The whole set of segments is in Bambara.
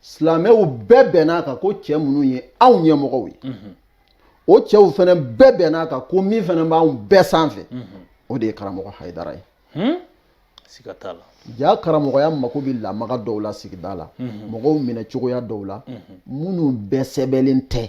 silamɛw bɛɛ bɛn'a kan ko cɛ minnu ye anw ɲɛmɔgɔw ye mhm. o cɛw fana bɛɛ bɛn'a kan ko min fana b'anw bɛɛ sanfɛ mhm. o de ye karamɔgɔ hayidara ye hmm? siga t'a la ja karamɔgɔya mako bɛ lamaga dɔw la sigida la mhm. mɔgɔw minɛ cogoya dɔw la minnu bɛɛ sɛbɛnlen tɛ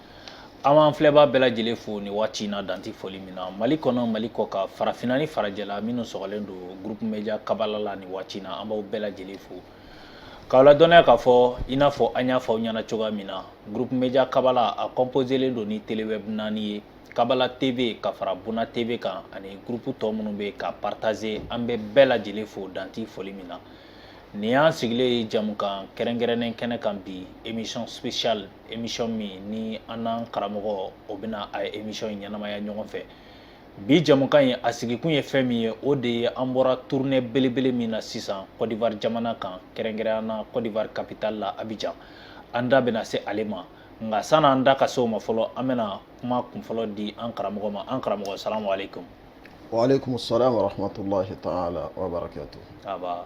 An b'an filɛbaa bɛɛ lajɛlen fo ni waati in na dan tɛ foli min na mali kɔnɔ mali kɔkan farafinna ni farajɛla minnu sɔgɔlen don groupe media kabala la ni waati in na an b'aw bɛɛ lajɛlen fo k'aw ladɔnniya k'a fɔ i n'a fɔ an y'a fɔ aw ɲɛna cogoya min na groupe media kabala a kɔnposelen don ni telewɛb naani ye kabala tv ka fara buna tv kan ani groupe tɔ minnu bɛ k'a partaze an bɛ bɛɛ lajɛlen fo dan tɛ foli min na nin y'an sigilen ye jamukan kɛrɛnkɛrɛnnen kɛnɛ kan bi émission spéciale émission min ni an n'an karamɔgɔ o bɛna a émission in ɲɛnamaya ɲɔgɔn fɛ bi jɛmukan in a sigikun ye fɛn min ye o de ye an bɔra tournée belebele min na sisan Côte d'Ivoire jamana kan kɛrɛnkɛrɛnya na Côte d'Ivoire capitale la Abidjan an da bɛna se ale ma nka san'an da ka se o ma fɔlɔ an bɛna kuma kunfɔlɔ di an karamɔgɔ ma an karamɔgɔ salamu aleykum wa aleykum salam wa rahmatulahi taala wa barakatu aba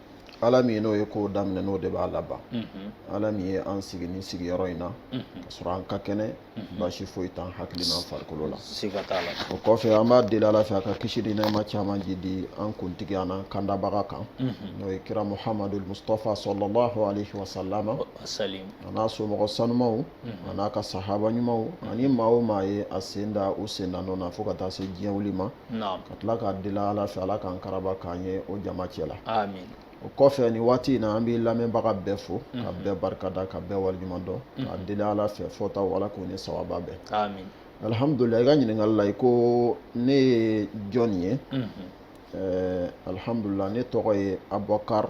ala min n'o ye ko daminɛ n'o de b'a laban ala min ye an sigi ni sigiyɔrɔ in na ka sɔrɔ an ka kɛnɛ baasi foyi t'an hakili n'an farikolo la o kɔfɛ an b'a deli ala fɛ a ka kisi ni nɛɛma caman ji di an kuntigi an'an kandabaga kan n'o ye kira muhamadul mustapha salalahu alayhi wa salama a n'a somɔgɔ sanumaw a n'a ka sahaba ɲumanw ani maa o maa ye a sen da u sen na nɔ na fo ka taa se diɲɛ wuli ma ka tila k'a deli ala fɛ ala k'an karaba k'an ye o jama cɛ la amin o kɔfɛ ni waati in na an bɛ lamɛnbaga bɛɛ fo ka mhm. bɛɛ barika da ka bɛɛ waleɲuman dɔn mhm. k'a deli ala fɛ fɔtaw ala k'o ni sawaba bɛn amin alihamudulila i ka ɲininkali la i ko ne ye jɔn ye mhm. alihamudulila ne tɔgɔ ye abubakar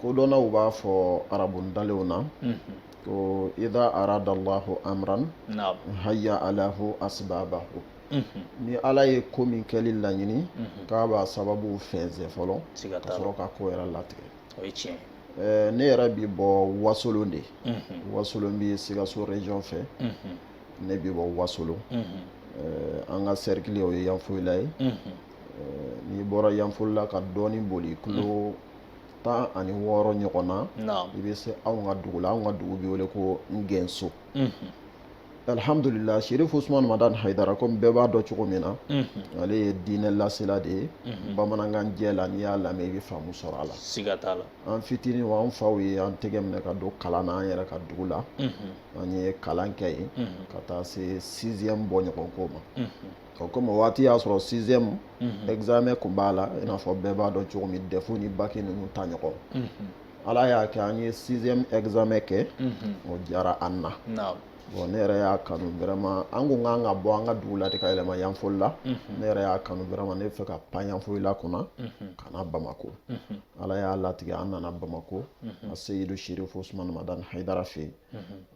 kodɔnnaw b'a fɔ arabu ntalenw na ko ida aradallahu amran haya alahu asbabahu ni ala ye ko min kɛli laɲini k'a b'a sababuw fɛnsɛ fɔlɔ ka sɔrɔ ka ko yɛrɛ latigɛ ne yɛrɛ bi bɔ wasolon de wasolon bi sikaso région fɛ ne bi bɔ wasolon an ka cercle o ye yanfoyila ye n'i bɔra yanfolila ka dɔɔni boli kilo tan ani wɔɔrɔ ɲɔgɔn na i bɛ se anw ka dugu la anw ka dugu bɛ wele ko Ngɛnso alihamudulila Serif Usumani Madani Hayidara komi bɛɛ b'a dɔn cogo min na ale ye diinɛ lasela de ye bamanankan jɛ la n'i y'a lamɛn i bɛ faamu sɔrɔ a la siga t'a la an fitinin o an faw ye an tɛgɛ minɛ ka don kalan na an yɛrɛ ka dugu la an ye kalan kɛ yen ka taa se sixième bɔɲɔgɔnko ma. o komi o waati y'a sɔrɔ sixième mhm. examen kun b'a la i n'a fɔ bɛɛ b'a dɔn cogo min dɛfu ni baki ninnu ta ɲɔgɔn mhm. ala y'a kɛ an ye sixième examen kɛ mhm. o diyara an na bon ne yɛrɛ y'a kanu vraiment an kun kan ka bɔ an ka dugu la de ka yɛlɛma yanfolila ne yɛrɛ y'a kanu vraiment ne b'a fɛ ka pan yanfolila kunna ka na bamakɔ ala y'a latigɛ an nana bamakɔ a seyidu sherifu usumani madani hayidara fɛ yen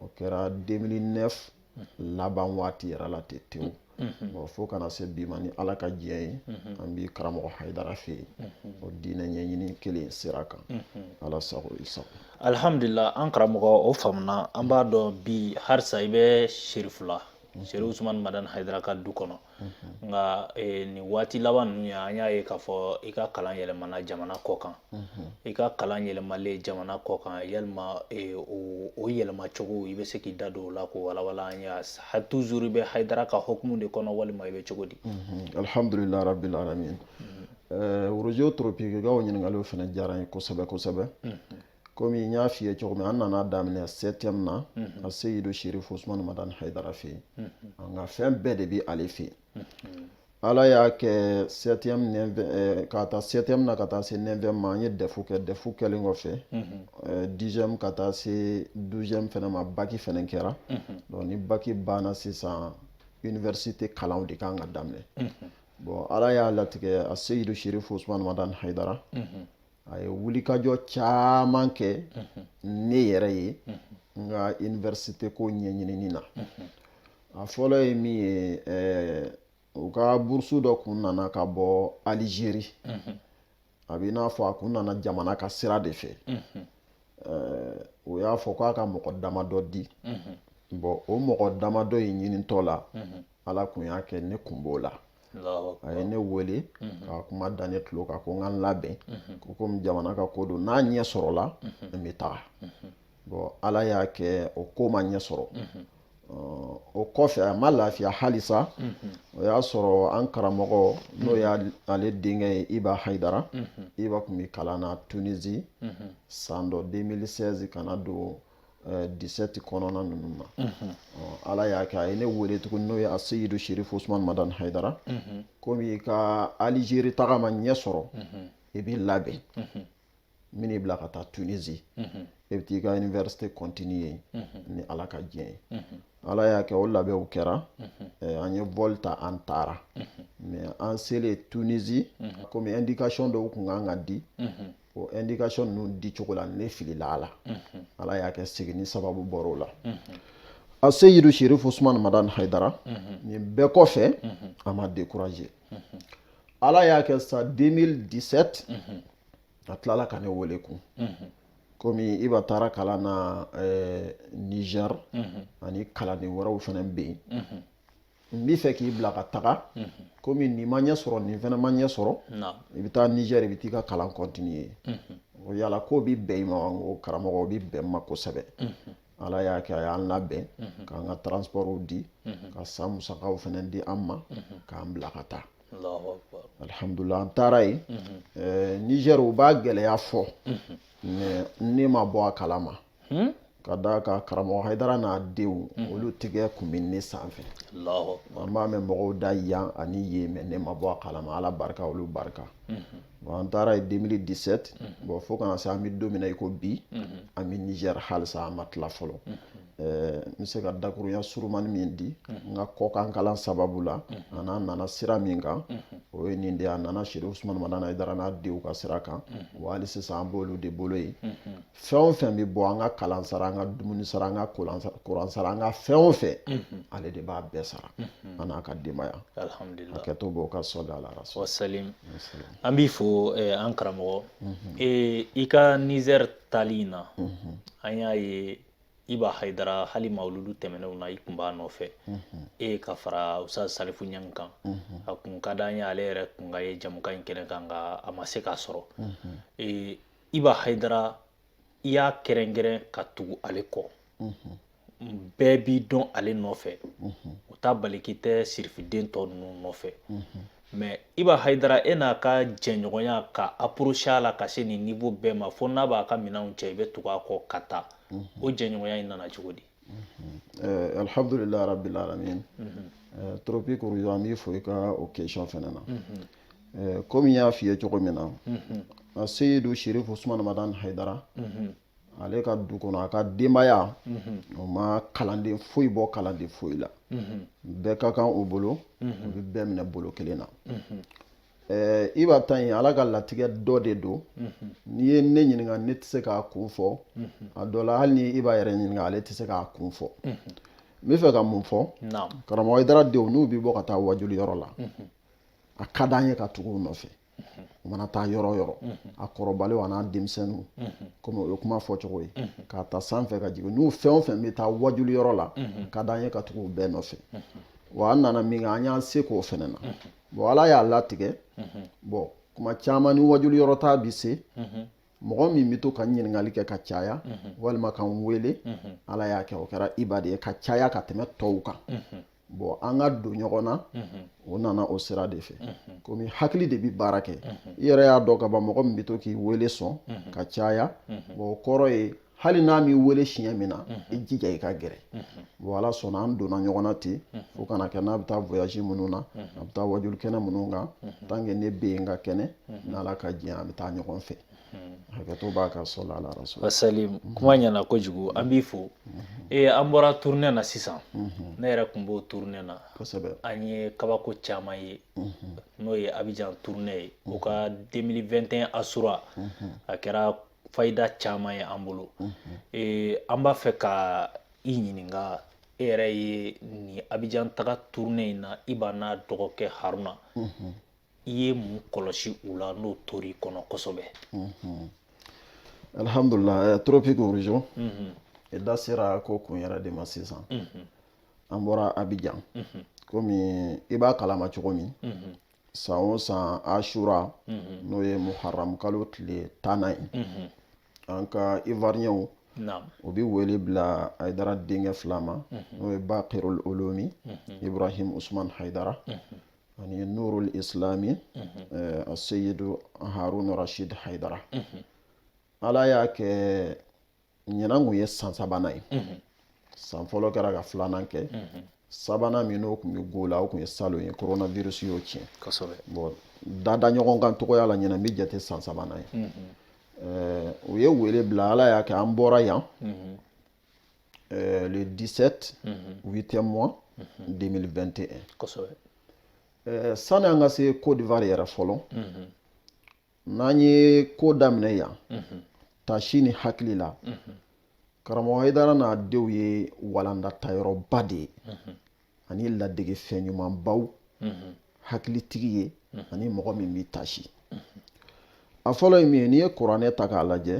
o kɛra 2009 laban waati yɛrɛ la ten tewu bon fo ka na se bi ma ni ala ka diɲɛ ye an bɛ karamɔgɔ haidara fɛ yen o diinɛ ɲɛɲini kelen sira kan ala sago i sago alihamdulila an karamɔgɔ o faamuna an b'a dɔn bi halisa i bɛ sherifula sherifu usumani madan haidara ka du kɔnɔ nka nin waati laban ninnu ye an y'a ye k'a fɔ i ka kalan yɛlɛmana jamana kɔkan i ka kalan yɛlɛmalen jamana kɔkan yalima o yɛlɛma cogo i bɛ se k'i da don o la k'o walawala an ye toujours i bɛ hayidara ka hukumu de kɔnɔ walima i bɛ cogo di alihamdulilayi rabbil alamin arajo toropiki ka o ɲininkaliw fana diyara n ye kosɛbɛ kosɛbɛ komi n y'a f'i ye cogo min an nana daminɛ septième na a seyidu sherif usman madan haidara fɛ yen n ka fɛn bɛɛ de bɛ ale fɛ yen ala y'a kɛ septième eh, ka taa septième na ka taa se neuvième ma an ye dɛfu kɛ dɛfu kɛlen kɔfɛ eh, dixième ka taa se douzième fɛnɛ ma baki fɛnɛ kɛra donc ni baki banna sisan université kalanw de kan ka daminɛ bon ala y'a latigɛ a seyidu sherif usman madan haidara a ye wulikajɔ caman kɛ ne yɛrɛ ye n ka iniversite ko ɲɛɲinini na a fɔlɔ ye min ye u ka burusu dɔ kun nana ka bɔ alizeri a b'i n'a fɔ a kun nana jamana ka sira de fɛ o y'a fɔ k'a ka mɔgɔ damadɔ di bon o mɔgɔ damadɔ in ɲinitɔ la ala kun y'a kɛ ne kun b'o la a ye ne wele mhm. ka kuma da ne tulo kan ko n ka n labɛn mhm. ko komi jamana ka ko don n'a ɲɛ sɔrɔla mhm. n bɛ taga bon ala y'a kɛ o ko ma ɲɛ sɔrɔ o kɔfɛ a ma lafiya halisa o y'a sɔrɔ an karamɔgɔ n'o y'ale denkɛ ye iba hayidara iba kun bɛ kalan na tunisi san dɔ 2016 ka na don 17 kɔnɔna ninnu na ala y'a kɛ a ye ne wele tuguni n'o ye a seyidu sherifu usumani madan hayidara komi i ka alizeri taga ma ɲɛ sɔrɔ i b'i labɛn n bɛn'i bila ka taa tunisi e bɛ t'i ka iniverisite continuer ni ala ka diɲɛ ye ala y'a kɛ o labɛnw kɛra an ye vol ta an taara mais an selen tunisi komi indikasiyɔn dɔw kun kan ka di o indication ninnu di cogo la ne filila a la ala y'a kɛ seginni sababu bɔra o la aseyidu sherifu usumani madan haidara nin bɛɛ kɔfɛ a ma décourager ala y'a kɛ sa 2017 a tilala ka ne wele kun komi iba taara kalan na eh, niger ani kalanden wɛrɛw fana bɛ yen n bɛ fɛ k'i bila ka taga komi nin ma ɲɛ sɔrɔ nin fana ma ɲɛ sɔrɔ i bɛ taa nizɛr i bɛ t'i ka kalan kɔntiniye o yala k'o bɛ bɛn i ma wa n ko karamɔgɔ o bɛ bɛn n ma kosɛbɛ ala y'a kɛ a y'an labɛn k'an ka transpɔrɔw di ka san musakaw fana di an ma k'an bila ka taa alihamudulilayi an taara yen nizɛr u b'a gɛlɛya fɔ mɛ ne ma bɔ a kalama hmm? ka d'a kan karamɔgɔ haidara n'a denw hmm. olu tigɛ kun bɛ ne sanfɛ an b'a mɛn mɔgɔw da yan ani yen mɛ ne ma bɔ a kalama ala barika olu barika bɔn an taara yen 2017 bɔn fo ka na se an bɛ don min na i ko bi an bɛ nizɛri halisa an ma tila fɔlɔ Eh, n bɛ se ka dakurunya surumani min di n ka kɔkan kalan sababu la ani an nana sira min kan o ye nin de ye a nana sirifu usumani madani haidara n'a denw ka sira kan wa hali sisan an b'olu de bolo yen fɛn o fɛn bɛ bɔ an ka kalan sara an ka dumuni sara an ka kuran sara an ka fɛn o fɛn ale de b'a bɛɛ sara an n'a ka denbaya a kɛtɔ b'o ka sɔli ala salim an b'i fo eh, an karamɔgɔ eh, i ka nizɛri taali in na an y'a ye iba hayidara hali mawuludu tɛmɛnenw na i kun b'a nɔfɛ e ka fara ustaz salifu ɲang kan a kun ka d'an ye ale yɛrɛ kun ka ye jamukan in kɛnɛ kan nka a ma se k'a sɔrɔ eh, iba hayidara i y'a kɛrɛnkɛrɛn ka tugu ale kɔ bɛɛ b'i dɔn ale nɔfɛ o t'a bali k'i tɛ sirifiden tɔ ninnu nɔfɛ mɛ iba hayidara e n'a ka jɛɲɔgɔnya ka aporosi a la ka se nin nivo bɛɛ ma fo n'a b'a ka minɛnw cɛ i bɛ tugu a kɔ ka taa o jɛɲɔgɔnya in nana cogo di Euh, alhamdulilayi rabbil alamin euh, tropique rouge an b'i fo i ka o question fana na euh, komi n y'a f'i ye cogo min na seyidu sherifu usman madan haidara ale ka du kɔnɔ a ka denbaya o ma kalanden foyi bɔ kalanden foyi la bɛɛ ka kan o bolo o bɛ bɛɛ minɛ bolo kelen na Eh, iba ta yen ala ka latigɛ dɔ de don mhm. n'i ye ne ɲininka ne tɛ se k'a kun fɔ mhm. a dɔ la hali ni i b'a yɛrɛ ɲininka ale tɛ se k'a kun fɔ mhm. n bɛ fɛ ka mun fɔ karamɔgɔ haidara denw n'u bɛ bɔ ka taa wajuli yɔrɔ la a ka d'an ye ka tugu u nɔfɛ u mana taa yɔrɔ o yɔrɔ a kɔrɔbalenw an'a denmisɛnninw komi o ye kuma fɔ cogo ye k'a ta sanfɛ ka jigin n'u fɛn o fɛn bɛ taa wajuli yɔrɔ la ka d'an ye ka tugu u bɛɛ nɔfɛ wa an nana min kɛ an y'an se k'o fɛnɛ na bon ala y'a latigɛ bon kuma caman ni wajuli yɔrɔ ta bi se mɔgɔ min bɛ to ka ɲininkali kɛ ka caya walima ka n wele ala y'a kɛ o kɛra iba de ye ka caya ka tɛmɛ tɔw kan bon an ka don ɲɔgɔn na o nana o sira de fɛ komi hakili de bɛ baara kɛ i yɛrɛ y'a dɔn ka ban mɔgɔ min bɛ to k'i wele sɔn ka caya bon o kɔrɔ ye hali n'a m'i wele siɲɛ min na i jija i ka gɛrɛ bon ala sɔnna an donna ɲɔgɔn na ten fo ka na kɛ n'a bɛ taa voyage minnu na a bɛ taa wajuli kɛnɛ minnu kan tant que ne bɛ yen ka kɛnɛ n'ala ka diɲɛ an bɛ taa ɲɔgɔn fɛ hakɛto b'a ka sali ala rasul wasalim kuma ɲɛna kojugu an b'i fo ee an bɔra tournée na sisan ne yɛrɛ tun b'o tournée na kosɛbɛ an ye kabako caman ye n'o ye abijan tournée ye o ka 2021 asura a kɛra fayida caman ye an bolo ee, an b'a fɛ ka i ɲininka e yɛrɛ ye nin abijan taga tournée in na iba n'a dɔgɔkɛ haruna i ye mun kɔlɔsi u la n'o tor'i kɔnɔ kosɛbɛ alhamdulillah eh, tropic origin i da sera ko kun yɛrɛ de ma sisan an bɔra abijan komi i b'a kalama cogo min san o san asura n'o ye muharam kalo tile tannan ye an ka ivoirienw o bɛ wele bila hayidara denkɛ fila ma n'o ye bakirul ulumi ibrahim usman hayidara ani nurul islami aseyidu harun rashid hayidara ala y'a kɛ ɲinan kun ye san sabanan ye san fɔlɔ kɛra ka filanan kɛ sabanan min n'o kun bɛ ko la o kun ye salon ye coronavirus y'o tiɲɛ kosɛbɛ bon dada ɲɔgɔn kan cogoya la ɲinan bɛ jate san sabanan ye u ye wele bila ala y'a kɛ an bɔra yan le 17 8e mois 2021 kosɛbɛ sani an ka se Côte d'Ivoire yɛrɛ fɔlɔ n'an ye ko daminɛ yan tasi ni hakili la karamɔgɔ hayidara n'a denw ye walandatayɔrɔba de ye ani ladege fɛn ɲumanbaw hakilitigi ye ani mɔgɔ min bɛ tasi a fɔlɔ ye min ye n'i ye kuranɛ ta k'a lajɛ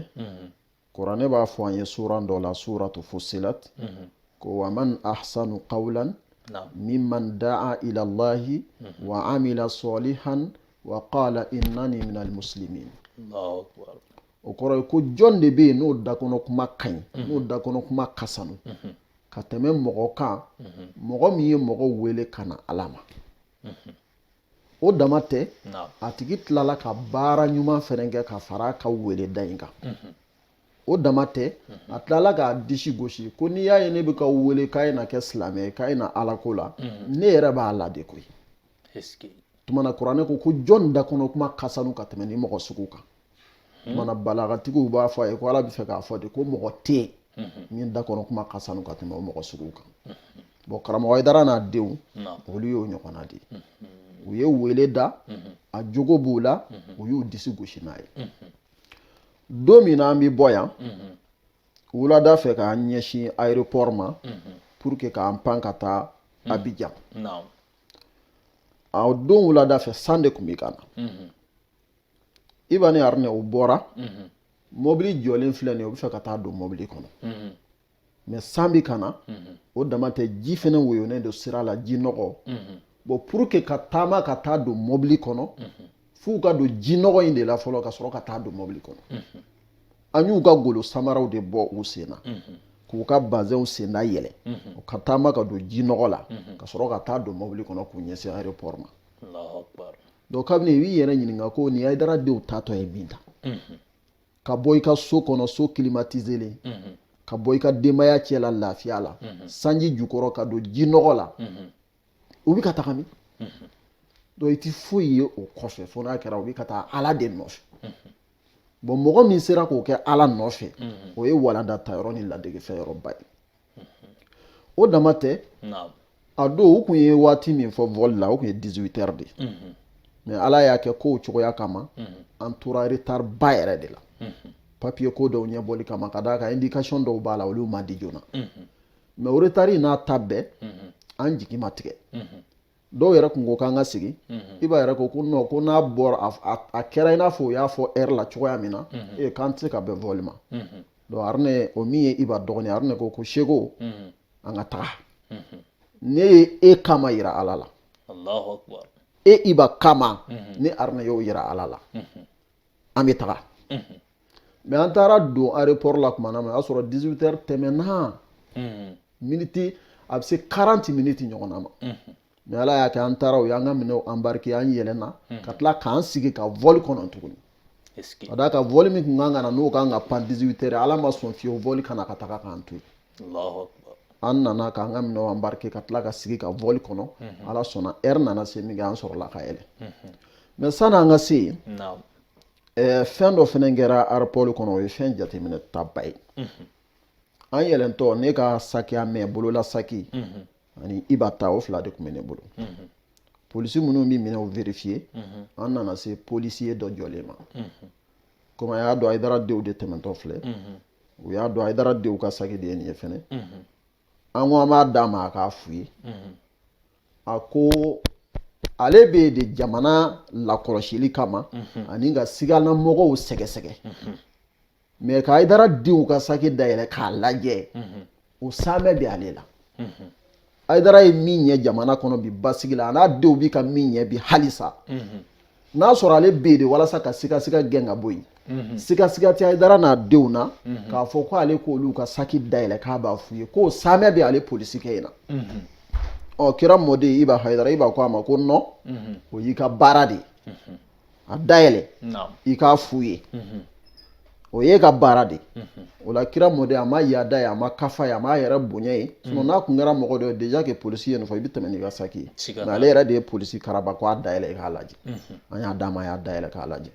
kuranɛ b'a fɔ an ye suran dɔ la suratu fusilat mhm. ko wa man ahsanu qawlan mimman da'a ila allahi mhm. wa amila salihan wa qala innani minal muslimin o kɔrɔ ye ko jɔn de bɛ yen n'o dakɔnɔ kuma ka ɲi mhm. n'o dakɔnɔ kuma ka sanu ka tɛmɛ mɔgɔ kan mɔgɔ min ye mɔgɔ wele ka na ala ma o dama tɛ a tigi tilala ka baara ɲuman fɛnɛ kɛ ka fara ka wele da in kan o dama tɛ a tilala k'a disi gosi ko n'i y'a ye ne bɛ ka wele k'a ye na kɛ silamɛ ye k'a ye na ala ko la ne yɛrɛ b'a la de koyi tuma na kuranɛ ko ko jɔn da kɔnɔ kuma ka sanu ka tɛmɛ nin mɔgɔ sugu kan Hmm. Mana balagatigiw b'a fɔ a ye ko ala bɛ fɛ k'a fɔ de ko mɔgɔ tɛ yen hmm. min da kɔnɔ kuma ka sanu ka tɛmɛ o mɔgɔ sugu kan hmm. bɔn karamɔgɔ ayidara n'a denw olu y'o ɲɔgɔnna de ye u ye wele da a jogo b'u la u y'u disi gosi n'a ye don min na an bɛ bɔ yan wulada fɛ k'an ɲɛsin aéroport ma pour que k'an pan ka taa abijan a don wulada fɛ san de tun bɛ ka na iba ni haruna u bɔra mhm. mɔbili jɔlen filɛ nin u bɛ fɛ ka taa don mɔbili kɔnɔ mhm. mɛ san bɛ ka na mhm. o dama tɛ ji fɛnɛ woyonen don sira la ji nɔgɔ bɔn pour que ka taama ka taa don mɔbili kɔnɔ f'u ka don ji nɔgɔ in de la fɔlɔ ka sɔrɔ ka taa don mɔbili kɔnɔ an y'u ka golo samaraw de bɔ u sen na k'u ka bazɛnw senda yɛlɛ ka taama ka don ji nɔgɔ la ka sɔrɔ ka taa don mɔbili kɔnɔ k'u ɲɛsin aéroport ma donc kabini i b'i yɛrɛ ɲininka ko nin ayidara denw taatɔ ye min ta ka bɔ i ka so kɔnɔ so kilimatizelen ka bɔ i ka denbaya cɛla lafiya la sanji jukɔrɔ ka don ji nɔgɔ la u bɛ ka taga min donc i tɛ foyi ye o kɔfɛ fo n'a kɛra u bɛ ka taa ala de nɔfɛ bɔn mɔgɔ min sera k'o kɛ ala nɔfɛ o ye walanda ta yɔrɔ ni ladegefɛn yɔrɔba ye o dama tɛ a don u kun ye waati min fɔ vɔli la o kun ye dizuwitɛri de ye mɛ ala y'a kɛ kow cogoya kama an tora retari ba yɛrɛ de la papiye ko dɔw ɲɛbɔli kama ka d'a kan indikasɔn dɔw b'a la olu ma di joona mɛ o retari n'a ta bɛɛ an jigi ma tigɛ dɔw yɛrɛ kun ko k'an ka sigi mhm. iba yɛrɛ ko ko nɔn ko n'a bɔra a kɛra i n'a fɔ u y'a fɔ ɛri la cogoya min na mhm. ee k'an tɛ se ka bɛn vɔli ma mhm. donc haruna o min ye iba dɔgɔnin haruna ko ko seko an ka taga ne ye e kama yira ala la e iba kama ne haruna y'o yira ala la an bɛ taga mɛ an taara don aéroport la tuma na o y'a sɔrɔ dizuwitɛri tɛmɛna miniti a bɛ se karanti miniti ɲɔgɔnna ma mɛ ala y'a kɛ an taara u y'an ka minɛnw anbarike an yɛlɛnna ka tila k'an sigi ka vɔli kɔnɔ tuguni ka d'a kan vɔli min kun kan ka na n'o ka kan ka pan dizuwitɛri ala ma sɔn fiyewu vɔli ka na ka taga k'an to an nana k'an ka minɛnw embarquer ka tila ka sigi ka vol kɔnɔ mhm. ala sɔnna heure nana se min kɛ an sɔrɔla ka yɛlɛ mhm. mais sani an ka se yen fɛn dɔ fɛnɛ kɛra aéroport kɔnɔ o ye fɛn jateminɛtaba ye mhm. an yɛlɛntɔ ne ka sac à main bolola saki ani Iba ta o fila de kun bɛ ne bolo polisi minnu bɛ minɛnw vérifier an nana se policier dɔ jɔlen ma comme a y'a dɔn Hayidara denw de tɛmɛntɔ filɛ u y'a dɔn Hayidara denw ka saki de ye nin ye fɛnɛ an ko an b'a d'a ma a k'a fouiller a ko ale bɛ yen de jamana lakɔlɔsili kama ani ka sigana mɔgɔw sɛgɛsɛgɛ mais ka Hayidara denw ka saki dayɛlɛ k'a lajɛ o saamɛ bɛ ale la Hayidara ye min ɲɛ jamana kɔnɔ bi basigi la a n'a denw bi ka min ɲɛ bi halisa n'a sɔrɔ ale bɛ yen de walasa ka sigasiga gɛn ka bɔ yen sigasiga tɛ Hayidara n'a denw na k'a fɔ ko ale k'olu ka saki dayɛlɛ k'a b'a fouiller k'o saamɛ bɛ ale polisikɛ in na ɔ kira mɔden Iba Hayidara Iba ko a ma ko non o y'i ka baara de ye a dayɛlɛ i k'a fouiller mhm. o y'e ka baara de mhm. o la kira mɔden a ma yaada ye a ma kafa ye a ma yɛrɛbonya ye mhm. sinon n'a kun kɛra mɔgɔ dɔ ye déjà que polisi ye nin fɔ i bɛ tɛmɛ n'i ka saki ye mais ale yɛrɛ de ye polisi karaba ko a dayɛlɛ i k'a lajɛ an y'a d'a ma a y'a dayɛlɛ k'a lajɛ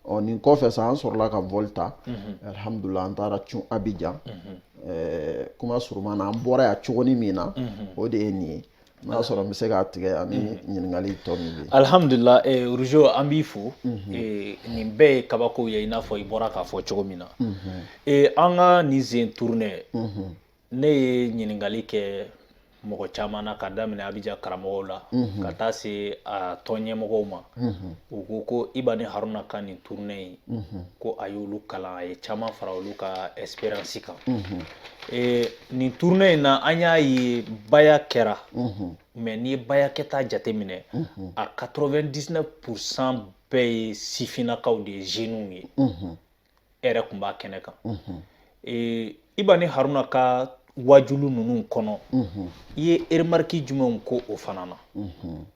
ɔ nin kɔfɛ sa an sɔrɔla ka vol ta alihamudulila an taara cun Abijan kuma suruman na an bɔra yan cogoni min na o de ye nin ye N'a sɔrɔ n bɛ se k'a tigɛ ani ɲininkali tɔ min bɛ yen. Alihamudulila Rujo an b'i fo nin bɛɛ ye kabako ye i n'a fɔ i bɔra k'a fɔ cogo min na an ka nin zen tournée ne ye ɲininkali kɛ mɔgɔ caman na ka daminɛ Abijan karamɔgɔw la ka taa se a tɔn ɲɛmɔgɔw ma u ko ko Iba ni Haruna ka nin tournée in ko a y'olu kalan a ye caman fara olu ka expérience kan Eh, nin tournée in na an y'a ye baya kɛra mhm. mais n'i ye baya kɛta jateminɛ mhm. a 99 pourcent bɛɛ ye sifinnakaw de ye jeunes ye mhm. e yɛrɛ kun b'a kɛnɛ kan eh, Iba ni Haruna ka wajulu ninnu kɔnɔ i ye remarque jumɛnw k'o fana na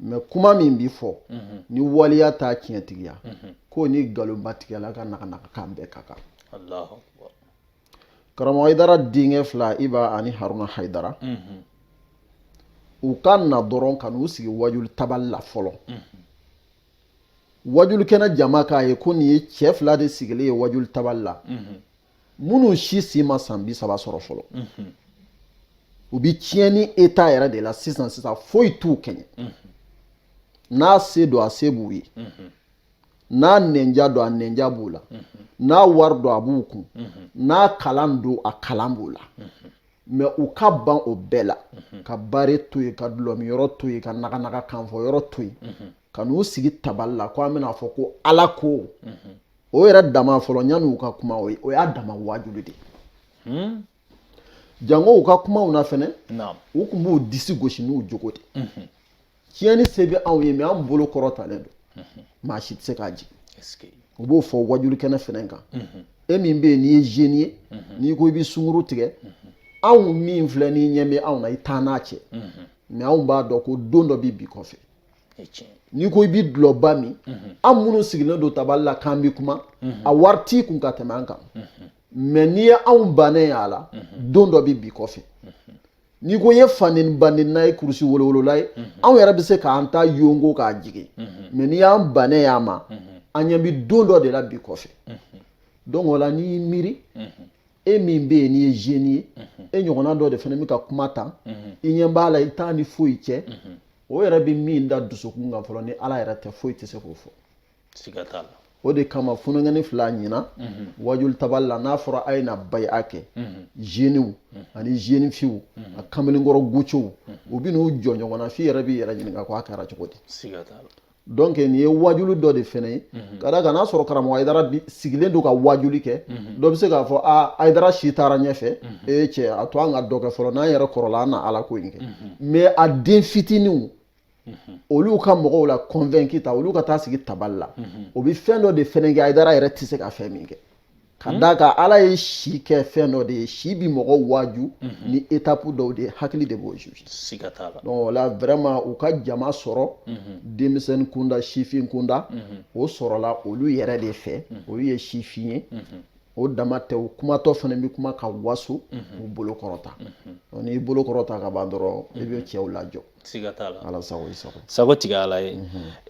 mais kuma min bɛ fɔ ni waleya t'a tiɲɛtigiya k'o ni nkalonbatigɛla ka naganagakan bɛɛ ka kan karamɔgɔ Hayidara denkɛ fila Iba ani Haruna Hayidara u ka na dɔrɔn ka n'u sigi wajuli tabali la fɔlɔ wajuli kɛnɛ jama k'a ye ko nin ye cɛ fila de sigilen ye wajuli tabali la minnu si si ma san bi saba sɔrɔ fɔlɔ u bɛ tiɲɛni eta yɛrɛ de la sisan sisan foyi t'u kɛɲɛ n'a se don a se b'u ye n'a nɛnja don a nɛnja b'u la n'a wari don a b'u kun n'a kalan don a kalan b'u la mɛ u ka ban o bɛɛ la ka bare to yen ka dulɔmiyɔrɔ to yen ka naganaga kanfɔyɔrɔ to yen ka n'u sigi tabali la ko an bɛna fɔ ko ala ko o yɛrɛ dama fɔlɔ yanni u ka kuma o ye o y'a dama wajulu de ye hmm? jango u ka kumaw na fɛnɛ u kun b'u disi gosi n'u jogo de mhm. tiɲɛni se bɛ anw ye mɛ an bolo kɔrɔtalen don mhm. maa si tɛ se k'a jigin u b'o fɔ wajuli kɛnɛ fɛnɛ kan mhm. e min bɛ yen n'i ye zeni ye n'i ko i bɛ sunguru tigɛ anw min filɛ n'i ɲɛ bɛ anw na i taa n'a cɛ mɛ anw b'a dɔn ko don dɔ bɛ bi kɔfɛ n'i ko i bɛ dulɔba min an minnu sigilen don tabali la k'an bɛ kuma a wari t'i kun ka tɛmɛ an kan mɛ n'i ye anw bannen y'a la don dɔ bɛ bi kɔfɛ n'i ko ye fanɛn banɛnna ye kurusi wolowolola ye anw yɛrɛ bɛ se k'an ta yɔgɔ k'a jigin mɛ n'i y'an bannen y'a ma an ɲɛ bɛ don dɔ de la bi kɔfɛ donc o la n'i y'i miiri e min bɛ yen n'i ye zeni ye e ɲɔgɔnna dɔ de fana bɛ ka kuma tan i ɲɛ b'a la i t'a ni foyi cɛ o yɛrɛ bɛ min da dusukun kan fɔlɔ ni ala yɛrɛ tɛ foyi tɛ se k'o fɔ siga t'a la o de kama funukɛni fila ɲina mhm. wajuli tabali la n'a fɔra a ye na bayi'a kɛ mhm. zeniw mhm. ani zeni fiw a kamalenkɔrɔ gocow u bɛ n'u jɔ ɲɔgɔn na f'i yɛrɛ b'i yɛrɛ ɲininka ko a kɛra cogo di donc nin ye wajulu dɔ de fɛnɛ ye mhm. ka d'a kan n'a sɔrɔ karamɔgɔ ayidara sigilen don ka wajuli kɛ mhm. dɔ bɛ se k'a fɔ a ayidara si taara ɲɛfɛ mhm. ee cɛ a to an ka dɔ kɛ fɔlɔ n'an yɛrɛ kɔrɔla an na ala ko in kɛ mais a den fitininw olu ka mɔgɔw la convaincu ta olu ka taa sigi tabali la o bɛ fɛn dɔ de fɛnɛ kɛ ayidara yɛrɛ tɛ se ka fɛn min kɛ ka hmm? d'a kan ala ye si kɛ fɛn dɔ de ye si bi mɔgɔ waaju mhm. ni etapu dɔw de hakili de b'o juge o la vraiment u ka jama sɔrɔ mhm. denmisɛnnin kunda sifin kunda mhm. o sɔrɔla olu yɛrɛ de fɛ olu ye sifin ye o dama tɛ o kumatɔ fana bɛ kuma ka waso u bolo kɔrɔta n'i bolo kɔrɔta ka ban dɔrɔn i bɛ cɛw lajɔ siga t'a la ala sago i sago sago tigi y'ala ye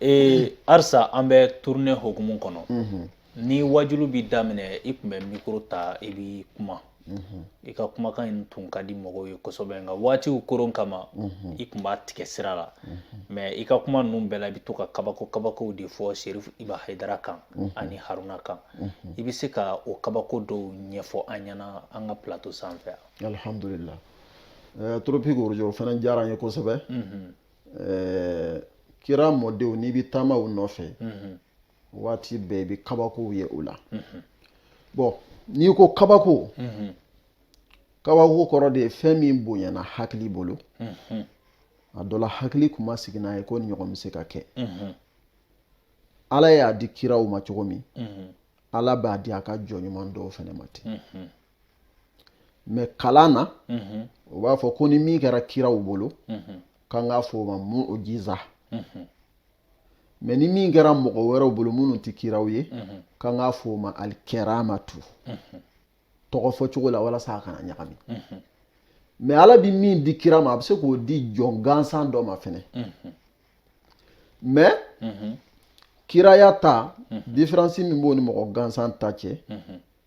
ee arisa an bɛ tournée hukumu kɔnɔ ni wajulu bi daminɛ i kun bɛ mikoro ta i bi kuma mhm. i ka kumakan in tun ka di mɔgɔw ye kosɛbɛ nka waatiw koron kama mhm. i kun b'a tigɛ sira la mɛ mhm. i ka kuma ninnu bɛɛ la i bɛ to ka kabako kabakow de fɔ serif iba hayidara kan ani haruna kan i bɛ se ka o kabako dɔw ɲɛfɔ an ɲɛna an ka plato sanfɛ alhamdulillah eh, toropiki orojo o fana diyara an ye kosɛbɛ eh, kira mɔdenw n'i bɛ taama u nɔfɛ waati bɛɛ i bɛ kabakow ye o la bɔn n'i ko kabako kabako kɔrɔ de ye fɛn min bonyana hakili bolo a dɔ la hakili kun ma sigi n'a ye ko nin ɲɔgɔn bɛ se ka kɛ ala y'a di kiraw ma cogo min ala b'a di a ka jɔn ɲuman dɔw fɛnɛ ma ten mɛ kalan na u b'a fɔ ko ni min kɛra kiraw bolo k'an k'a fɔ o ma muujiza mɛ ni min kɛra mɔgɔ wɛrɛw bolo minnu tɛ kiraw ye k'an k'a fɔ o ma alikɛramatu tɔgɔ fɔ cogo la walasa a kana ɲagami mɛ ala bɛ min di kira ma a bɛ se k'o di jɔn gansan dɔ ma fɛnɛ mɛ kiraya ta diferansi min b'o ni mɔgɔ gansan ta cɛ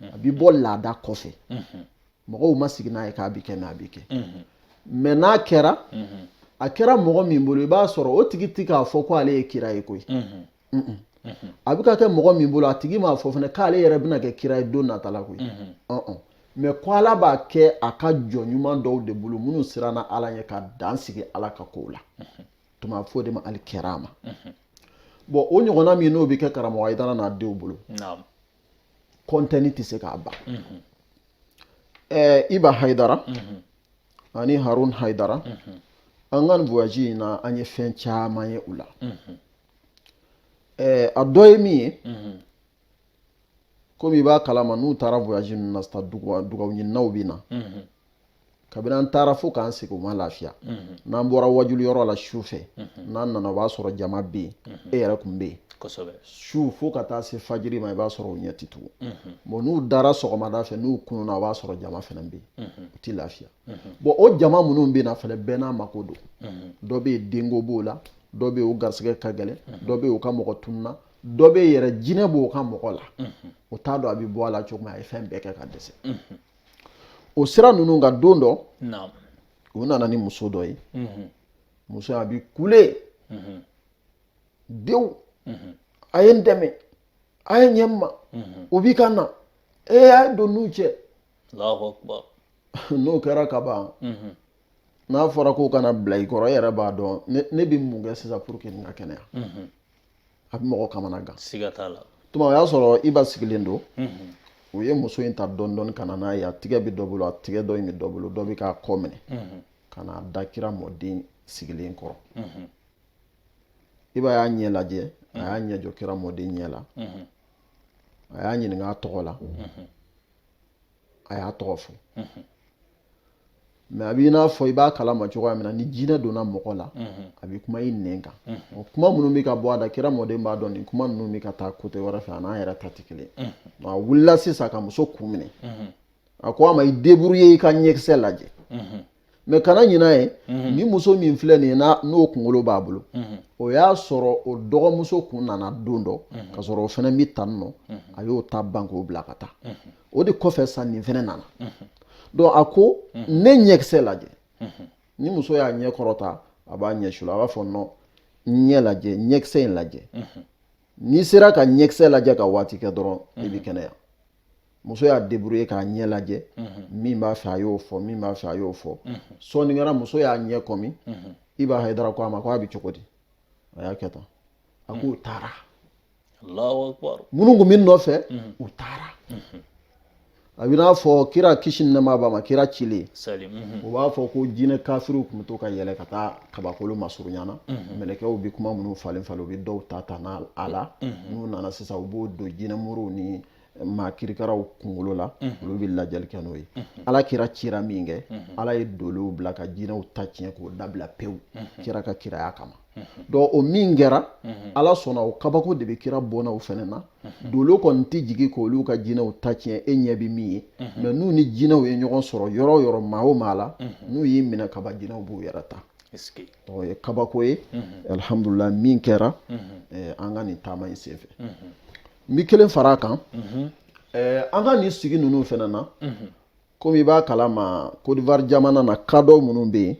a bɛ bɔ laada kɔfɛ mɔgɔw ma sigi n'a ye k'a bɛ kɛ mɛ a bɛ kɛ mɛ n'a kɛra a kɛra mɔgɔ min bolo i b'a sɔrɔ o tigi ti k'a fɔ ko ale ye kira ye koyi a bɛ ka kɛ mɔgɔ min bolo a tigi m'a fɔ fana k'ale yɛrɛ bɛna kɛ kira ye don nata la koyi mɛ ko ala b'a kɛ a ka jɔn ɲuman dɔw de bolo minnu siranna ala ɲɛ ka dan sigi ala ka kow la tuma fɔ de ma alikɛrama bɔn o ɲɔgɔnna min n'o bɛ kɛ karamɔgɔ hayidara n'a denw bolo kɔntɛni tɛ se k'a ban ɛɛ iba hayidara ani harun hayidara an ka nin voyage in na an ye fɛn caman ye u la ɛɛ a dɔ ye min ye komi i b'a kalama n'u taara voyage ninnu na sisan dugawu ɲininaw bɛ na kabini an taara fo k'an segin u ma lafiya mhm. n'an bɔra wajuli yɔrɔ la su fɛ mhm. n'an nana o b'a sɔrɔ jama bɛ yen mhm. e yɛrɛ kun bɛ yen su fo ka taa se fajiri ma i b'a sɔrɔ u ɲɛ tɛ tugun bɔn n'u dara sɔgɔmada fɛ n'u kununa o b'a sɔrɔ jama fana bɛ yen u tɛ lafiya bɔn o jama minnu bɛ na fana bɛɛ n'a mako don dɔ bɛ yen denko b'o la dɔ bɛ yen o garisigɛ ka gɛlɛn dɔ bɛ yen o ka mɔgɔ tununa dɔ bɛ yen yɛrɛ jinɛ b'o ka mɔgɔ la o t'a dɔn a bɛ bɔ a la cogo min a ye fɛn bɛɛ kɛ ka dɛsɛ o sira ninnu kan don dɔ u nana ni muso dɔ ye mhm. muso a bi kule mhm. denw mhm. a ye n dɛmɛ a ye ɲɛ n ma o bi ka na ee a ye don n'u cɛ allahu akbar n'o kɛra ka ban n'a fɔra k'o kana bila i kɔrɔ e yɛrɛ b'a dɔn ne bɛ mun kɛ sisan pour que nin ka kɛnɛya a bɛ mɔgɔ kamana gan siga t'a la tuma o y'a sɔrɔ iba sigilen don u ye muso in ta dɔɔni dɔɔni ka na n'a ye a tigɛ bɛ dɔ bolo a tigɛ dɔ in bɛ dɔ bolo dɔ bɛ k'a kɔ minɛ ka n'a da kira mɔden sigilen kɔrɔ iba y'a ɲɛ lajɛ a y'a ɲɛ jɔ kira mɔden ɲɛ la a y'a ɲininka a tɔgɔ la a y'a tɔgɔ fɔ mɛ a b'i n'a fɔ i b'a kalama cogoya min na ni jinɛ donna mɔgɔ la mhm. a bɛ kuma i nɛn kan mhm. o kuma minnu bɛ ka bɔ a da kira mɔden b'a dɔn nin kuma ninnu bɛ ka taa kote wɛrɛ fɛ a n'a yɛrɛ ta tɛ kelen mhm. a wulila sisan ka muso kun minɛ a ko a ma i deburuye i ka ɲɛkisɛ lajɛ mɛ kana ɲina ye ni muso min filɛ nin ye n'o kunkolo b'a bolo o y'a sɔrɔ o dɔgɔmuso kun nana don dɔ ka sɔrɔ o fɛnɛ bɛ tan nɔ a y'o ta ban k'o bila ka taa o de kɔfɛ sa nin fɛnɛ nana donc a ko ne ɲɛkisɛ lajɛ ni muso y'a ɲɛ kɔrɔta a b'a ɲɛ suli a b'a fɔ nɔn n ɲɛ lajɛ ɲɛkisɛ in lajɛ n'i sera ka ɲɛkisɛ lajɛ ka waati kɛ dɔrɔn i bɛ kɛnɛya muso y'a débrouiller k'a ɲɛ lajɛ min b'a fɛ a y'o fɔ min b'a fɛ a y'o fɔ sɔɔni kɛra muso y'a ɲɛ kɔmi iba hayidara ko a ma ko a bɛ cogo di a y'a kɛ tan a k'u taara minnu kun bɛ nɔfɛ u taara a bɛ n'a fɔ kira kisi ni nɛɛma b'a ma kira cilen u b'a fɔ ko jinɛ kafiriw kun bɛ to ka yɛlɛ ka taa kabakolo masurunya na mɛlɛkɛw bɛ kuma minnu falen falen u bɛ dɔw ta ta n'a a la n'u nana sisan u b'o don jinɛmuru ni maa kirikaraw kunkolo la olu bɛ lajɛli kɛ n'o ye ala kira cira min kɛ ala ye dolow bila ka jinɛw ta tiɲɛ k'o dabila pewu kira ka kiraya kama donc o min kɛra ala sɔnna o kabako de bɛ kira bɔnnaw fɛnɛ na dolo kɔni tɛ jigin k'olu ka jinɛw ta tiɲɛ e ɲɛ bɛ min ye mɛ n'u ni jinɛw ye ɲɔgɔn sɔrɔ yɔrɔ o yɔrɔ maa o maa la n'u y'i minɛ ka ban jinɛw b'u yɛrɛ ta o ye kabako ye alihamdulila min kɛra an ka nin taama in senfɛ n bɛ kelen fara a kan an ka nin sigi ninnu fɛnɛ na komi i b'a kalama kodiwari jamana na kadɔ minnu bɛ yen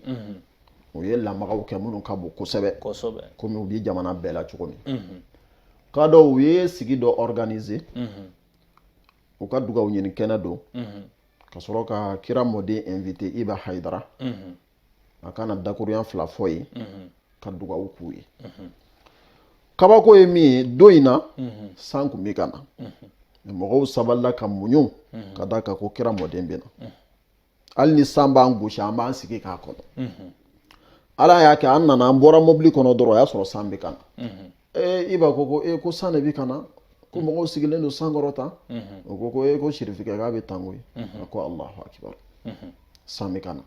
u ye lamagaw kɛ minnu ka bon kosɛbɛ komi u bɛ jamana bɛɛ la cogo min kadɔ u ye sigi dɔ organiser u ka dugawu ɲini kɛnɛ don ka sɔrɔ ka kira mɔden inviter iba hayidara a ka na dakuruɲa fila fɔ ye ka dugawu k'u ye kabako ye min ye don in na san kun bɛ ka na mɔgɔw sabalila ka muɲu ka d'a kan ko kira mɔden bɛ na hali ni san b'an gosi an b'an sigi k'a kɔnɔ ala y'a kɛ an nana an bɔra mobili kɔnɔ dɔrɔn o y'a sɔrɔ san bɛ ka na iba ko ko e ko san de bɛ ka na ko mɔgɔw sigilen don san kɔrɔ tan o ko ko e ko sirifikɛ k'a bɛ tan koyi a ko alahu akibaru san bɛ ka na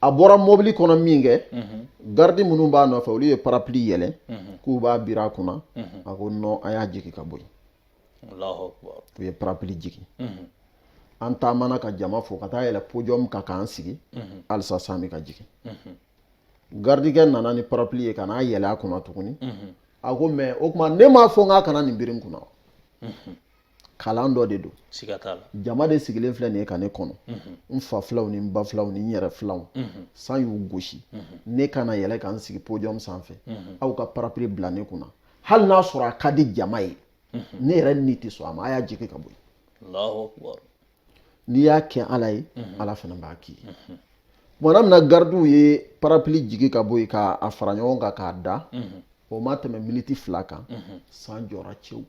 a bɔra mɔbili kɔnɔ min kɛ garidi minnu b'a nɔfɛ olu ye parapli yɛlɛ k'u b'a biri a kunna a ko nɔn a y'a jigin ka bɔ yen u ye parapli jigin an taamana ka jama fo ka taa yɛlɛ pojɔmu kan k'an sigi halisa san bɛ ka jigin garidikɛ nana ni parapli ye ka n'a yɛlɛ a kunna tuguni a ko mɛ o tuma ne m'a fɔ n k'a kana nin biri n kunna kalan dɔ de don jama de sigilen filɛ nin ye ka ne kɔnɔ mhm. n fa filanw ni n ba filanw ni n yɛrɛ filanw mhm. san y'u gosi mhm. ne kana yɛlɛ ka n sigi podium sanfɛ aw ka parapili bila ne kunna hali n'a sɔrɔ a ka di jama ye ne yɛrɛ ni tɛ sɔn a ma a y'a jigi ka bɔ yen n'i y'a kɛ ala ye ala fana b'a k'i ye tumana min na garidiw ye parapili jigi ka bɔ yen k'a fara ɲɔgɔn kan k'a da o ma tɛmɛ miniti fila kan san jɔra cɛwu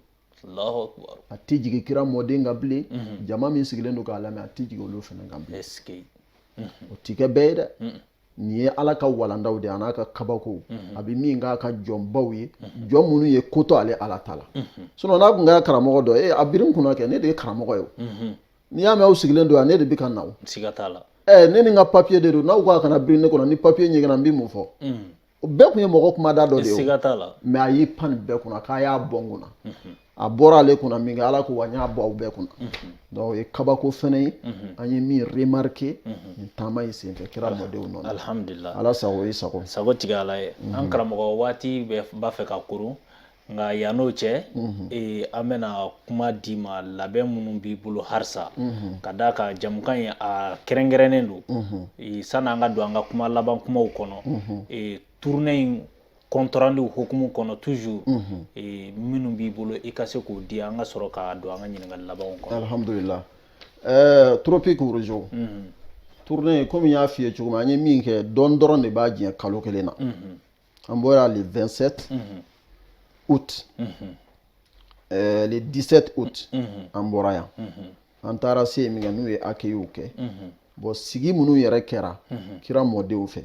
a tɛ jigin kira mɔden kan bilen mhm. jama min sigilen don k'a lamɛn a tɛ jigin olu fana kan bilen mhm. o tɛ kɛ bɛɛ ye dɛ mhm. nin ye ala ka walandaw de an'a ka kabakow a bɛ min k'a ka jɔnbaw ye jɔn minnu ye ko to ale ala ta la sinon n'a tun kɛra karamɔgɔ dɔ ye a biri n kunna kɛ ne de ye karamɔgɔ ye n'i y'a mɛn aw sigilen don yan ne de bɛ ka na o ne ni n ka papiye de don n'aw k'a kana biri ne kunna ni papiye ɲiginna n bɛ mun fɔ o bɛɛ tun ye mɔgɔ kumada dɔ de ye mais a y'i pan nin bɛɛ kunna k'a y'a bɔ n kunna mhm. a bɔra ale kunna min kɛ ala ko wa n y'a bɔ aw bɛɛ kunna mhm. donc o ye kabako fɛnɛ ye mhm. an ye min remarqué nin taama in senfɛ kira mɔdenw nɔ alhamdulillah ala sago i sago sago tigi ala ye an karamɔgɔ waati b'a fɛ ka koron nka yann'o cɛ ee, an bɛna kuma d'i ma labɛn minnu b'i bolo halisa ka d'a kan jamukan in a kɛrɛnkɛrɛnnen don ee, sanni an ka don an ka kuma laban kumaw kɔnɔ ee, tournée in compte rendu hukumu kɔnɔ toujours ee, minnu b'i bolo i ka se k'o di an ka sɔrɔ ka don an ka ɲininkali labanw kɔnɔ alhamdulillah ɛɛ tropique rojo tournée in komi n y'a f'i ye cogo min an ye min kɛ dɔɔni dɔrɔn de b'a jɛ kalo kelen na An bɔra le 27 août le 17 août an bɔra yan an taara se min kɛ n'u ye accueil kɛ bon sigi minnu yɛrɛ kɛra kira mɔdenw fɛ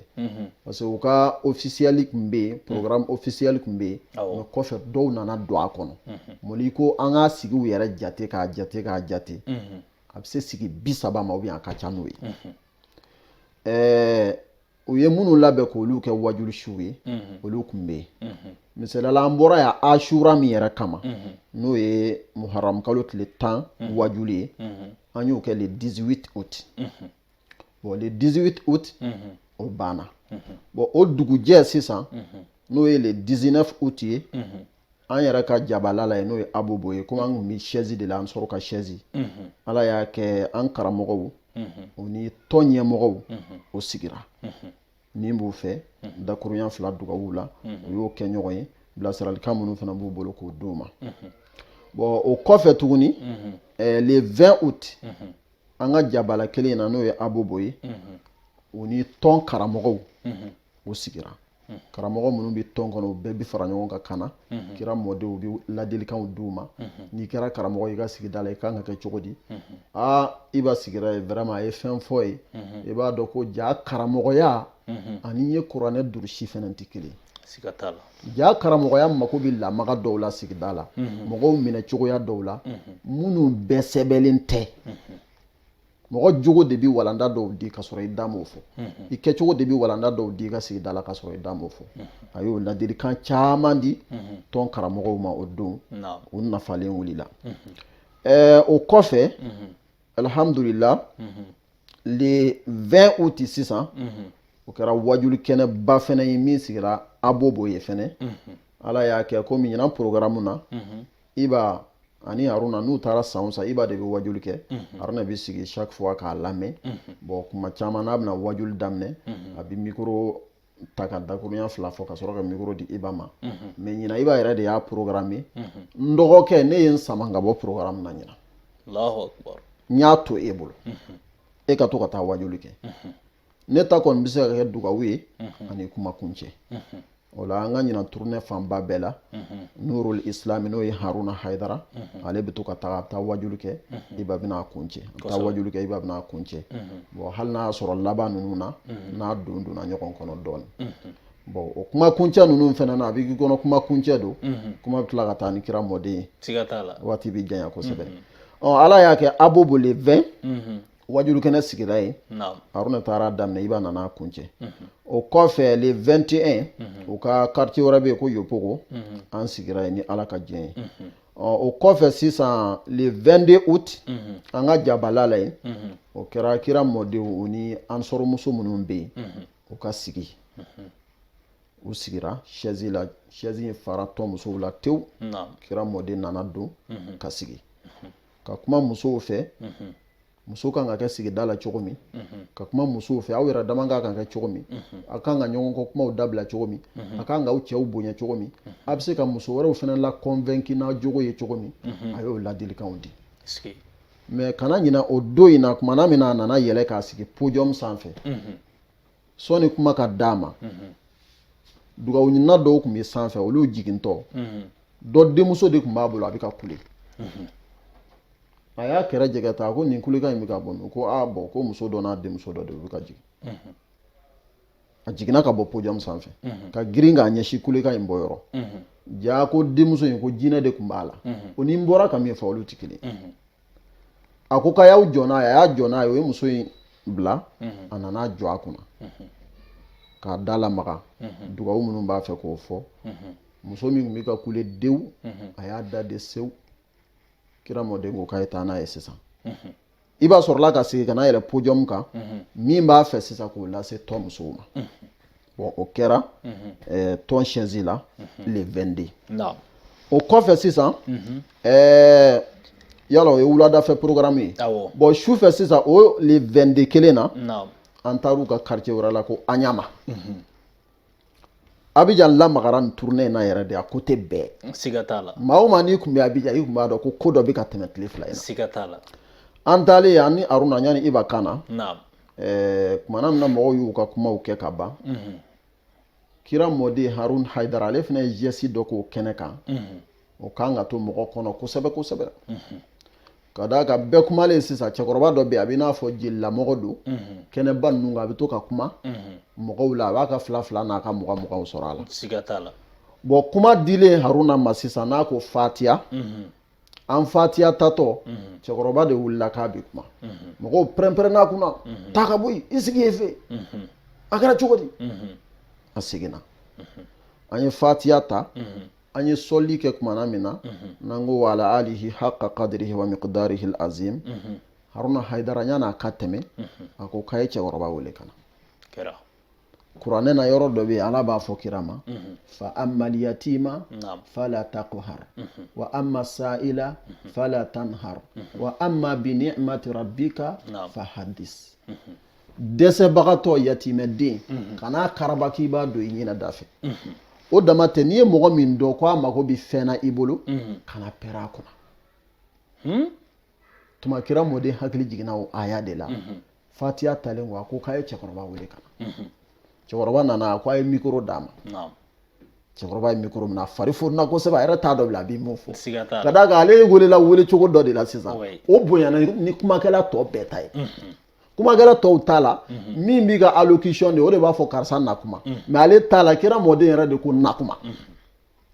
parce que u ka officiel kun bɛ yen programme officiel kun bɛ yen mais kɔfɛ dɔw nana don a kɔnɔ mɔli ko an ka sigiw yɛrɛ jate k'a jate a bɛ se sigi bi saba ma ou bien a ka ca n'o ye ɛɛ u ye minnu labɛn k'olu kɛ wajulu suw ye olu kun bɛ yen misaliya la an bɔra yan asura min yɛrɛ kama n'o ye muharamu kalo tile tan wajulu ye an y'o kɛ le 18 août bon le 18 août o banna bon o dugujɛ sisan n'o ye le 19 août ye an yɛrɛ ka jabala la ye n'o ye abobo ye komi an kun bɛ sɛzi de la an sɔrɔ ka sɛzi ala y'a kɛ an karamɔgɔw u ni tɔn ɲɛmɔgɔw u sigira min b'u fɛ dakuruɲa fila dugawu la u y'o kɛ ɲɔgɔn ye bilasiralikan minnu fana b'u bolo k'o d'u ma bon o kɔfɛ tuguni le 20 août an ka jabala kelen in na n'o ye abobo ye u ni tɔn karamɔgɔw u sigira Hmm. karamɔgɔ minnu bɛ tɔn kɔnɔ u bɛɛ bɛ fara ɲɔgɔn kan ka na hmm. kira mɔdenw bɛ ladilikanw di u ma hmm. n'i kɛra karamɔgɔ i ka sigida la i kan ka kɛ cogo di aa iba sigira yen vraiment a ye fɛn fɔ yen i b'a dɔn ko jaa karamɔgɔya ani n ye kuranɛ durusi fana tɛ kelen siga t'a la jaa karamɔgɔya mako bɛ lamaga dɔw la sigida la mɔgɔw minɛ cogoya dɔw la minnu bɛɛ sɛbɛnlen tɛ mɔgɔ jogo de bɛ walanda dɔw di ka sɔrɔ i da m'o fɔ i kɛcogo de bɛ walanda dɔw di i ka sigida la ka sɔrɔ i da m'o fɔ a y'o ladilikan caman di tɔn karamɔgɔw ma o don u nafalen wulila eh, o kɔfɛ alhamdulila le 20 août sisan o kɛra wajuli kɛnɛba fɛnɛ ye min sigira abobo yen fɛnɛ ala y'a kɛ komi ɲinan programme na iba ani haruna n'u taara san san iba de bɛ wajuli kɛ mhm. haruna bɛ sigi chaque fois k'a lamɛn mhm. bon kuma caman n'a bɛna wajuli daminɛ mhm. a bɛ mikoro ta ka dakurunya fila fɔ ka sɔrɔ ka mikoro di iba ma mais ɲinan iba yɛrɛ de y'a programme n dɔgɔkɛ ne ye n sama ka bɔ programme na ɲinan allahu akbar n y'a to e bolo e ka to ka taa wajuli kɛ ne ta kɔni bɛ se ka kɛ dugawu ye ani kuma kuncɛ o la an ka ɲinan tournée fanba bɛɛ la nurul islami n'o ye haruna haidara ale bɛ to ka taa a bɛ taa wajulu kɛ iba bɛ na a kuncɛ a bɛ taa wajulu kɛ iba bɛ na a kuncɛ bon hali n'a y'a sɔrɔ laban ninnu na n'a don donna ɲɔgɔn kɔnɔ dɔɔnin bon o kuma kuncɛ ninnu fana na a b'i kɔnɔ kuma kuncɛ don kuma bɛ tila ka taa ni kira mɔden ye waati bɛ janya kosɛbɛ ɔ ala y'a kɛ abobo le 20 wajulu kɛnɛ sigira yen haruna taara daminɛ iba nana a kuncɛ o kɔfɛ le 21 u ka quartier wɛrɛ bɛ yen ko yopougon an sigira yen ni ala ka diɲɛ ye o kɔfɛ sisan le 22 août an ka jabala la yen o kɛra kira mɔdenw u ni ansar muso minnu bɛ yen u ka sigi u sigira sɛzi la sɛzi in fara tɔn musow la tewu kira mɔden nana don ka sigi ka kuma musow fɛ muso kan ka kɛ sigida la cogo min ka kuma musow fɛ aw yɛrɛ dama kan ka kɛ cogo min a kan ka ɲɔgɔn kɔ kumaw dabila cogo min a kan ka aw cɛw bonya cogo min a bɛ se ka muso wɛrɛw fɛnɛ la convaincre n'a jogo ye cogo min a y'o ladilikanw di mais kana ɲina o don in na tumana min na a nana yɛlɛ k'a sigi podium sanfɛ sɔni kuma ka d'a ma mhm. dugawuɲinina dɔw tun bɛ sanfɛ olu jigintɔ mhm. dɔ denmuso de tun b'a bolo a bɛ ka kule mhm. a y'a kɛrɛ jɛngɛ tan ko nin kulekan in bɛ ka bɔ min ko a bon ko muso dɔ n'a denmuso dɔ de bɛ ka jigin a jiginna ka bɔ podium sanfɛ ka girin k'a ɲɛsin kulekan in bɔ yɔrɔ jaa ko denmuso in ko jinɛ de tun b'a la o ni n bɔra ka min fɔ olu tɛ kelen a ko k'a y'aw jɔ n'a ye a y'a jɔ n'a ye o ye muso in bila mhm. a nana jɔ a kunna mhm. k'a da lamaga mhm. dugawu minnu b'a fɛ k'o fɔ muso min tun bɛ ka kule dewu a y'a dade sewu kira mɔden ko k'a ye taa n'a ye sisan iba sɔrɔla ka segin ka na yɛlɛn pojɔmu kan min b'a fɛ sisan k'o lase tɔn musow ma bon o kɛra ɛɛ tɔn siège la le 22 naamu o kɔfɛ sisan ɛɛ yala o ye wuladafɛ programme ye awɔ bon su fɛ sisan o le 22 kelen na naamu an taar'u ka quartier wɛrɛ la ko aɲama abijan lamagara nin tournée in na yɛrɛ de a côté bɛɛ siga t'a la maa o maa n'i tun bɛ abijan i tun b'a dɔn ko ko dɔ bɛ ka tɛmɛ tile fila in na siga t'a la an taalen yen an ni aruna yanni iba ka na naamu ɛɛ kumana min na mɔgɔw y'u ka kumaw kɛ ka ban kira mɔden harun haidara ale fana ye jɛsi dɔ k'o kɛnɛ kan o kan ka to mɔgɔ kɔnɔ kosɛbɛ kosɛbɛ ka d'a kan bɛɛ kumalen sisan cɛkɔrɔba dɔ bɛ yen a bɛ n'a fɔ jelilamɔgɔ don kɛnɛba ninnu kan a bɛ to ka kuma mɔgɔw la a b'a ka fila fila n'a ka mugan muganw sɔrɔ a la bon kuma dilen haruna ma sisan n'a ko fatiya an fatiya tatɔ cɛkɔrɔba de wulila k'a bɛ kuma mɔgɔw pɛrɛnpɛrɛnn'a kunna taa ka bɔ yen i sigi yen fɛ a kɛra cogo di a seginna an ye fatiya ta an ye sɔli kɛ kumana min na n'an ko wa ala alihi haqa qadrihi wa miqdarihil azim haruna haidara yann'a ka tɛmɛ a ko k'a ye cɛkɔrɔba wele ka na kuranɛ na yɔrɔ dɔ bɛ yen ala b'a fɔ kira ma mhm. fa ammal yatima fala taqhar mhm. wa amma sa'ila mhm. fala tanhar wa amma bi ni'mati rabbika fa haddis dɛsɛbagatɔ yatimɛden kan'a karaba k'i b'a don i ɲɛna da fɛ o dama tɛ n'i ye mɔgɔ min dɔn ko a mago bɛ fɛn na i bolo kana pɛrɛ a kunna hmm? tuma kira mɔden hakili jiginna o aya de la fatiya talen ko a ko k'a ye cɛkɔrɔba wele ka na cɛkɔrɔba nana a ko a ye mikoro d'a ma cɛkɔrɔba ye mikoro minɛ a fari fununa kosɛbɛ a yɛrɛ t'a dɔn bilen a bɛ mun fɔ ka d'a kan ale welela wele cogo dɔ de la sisan o bonyana ni kumakɛla tɔ bɛɛ ta ye kumakɛla tɔw ta la min bɛ ka allocution di o de b'a fɔ karisa na kuma mais ale ta la kira mɔden yɛrɛ de ko na kuma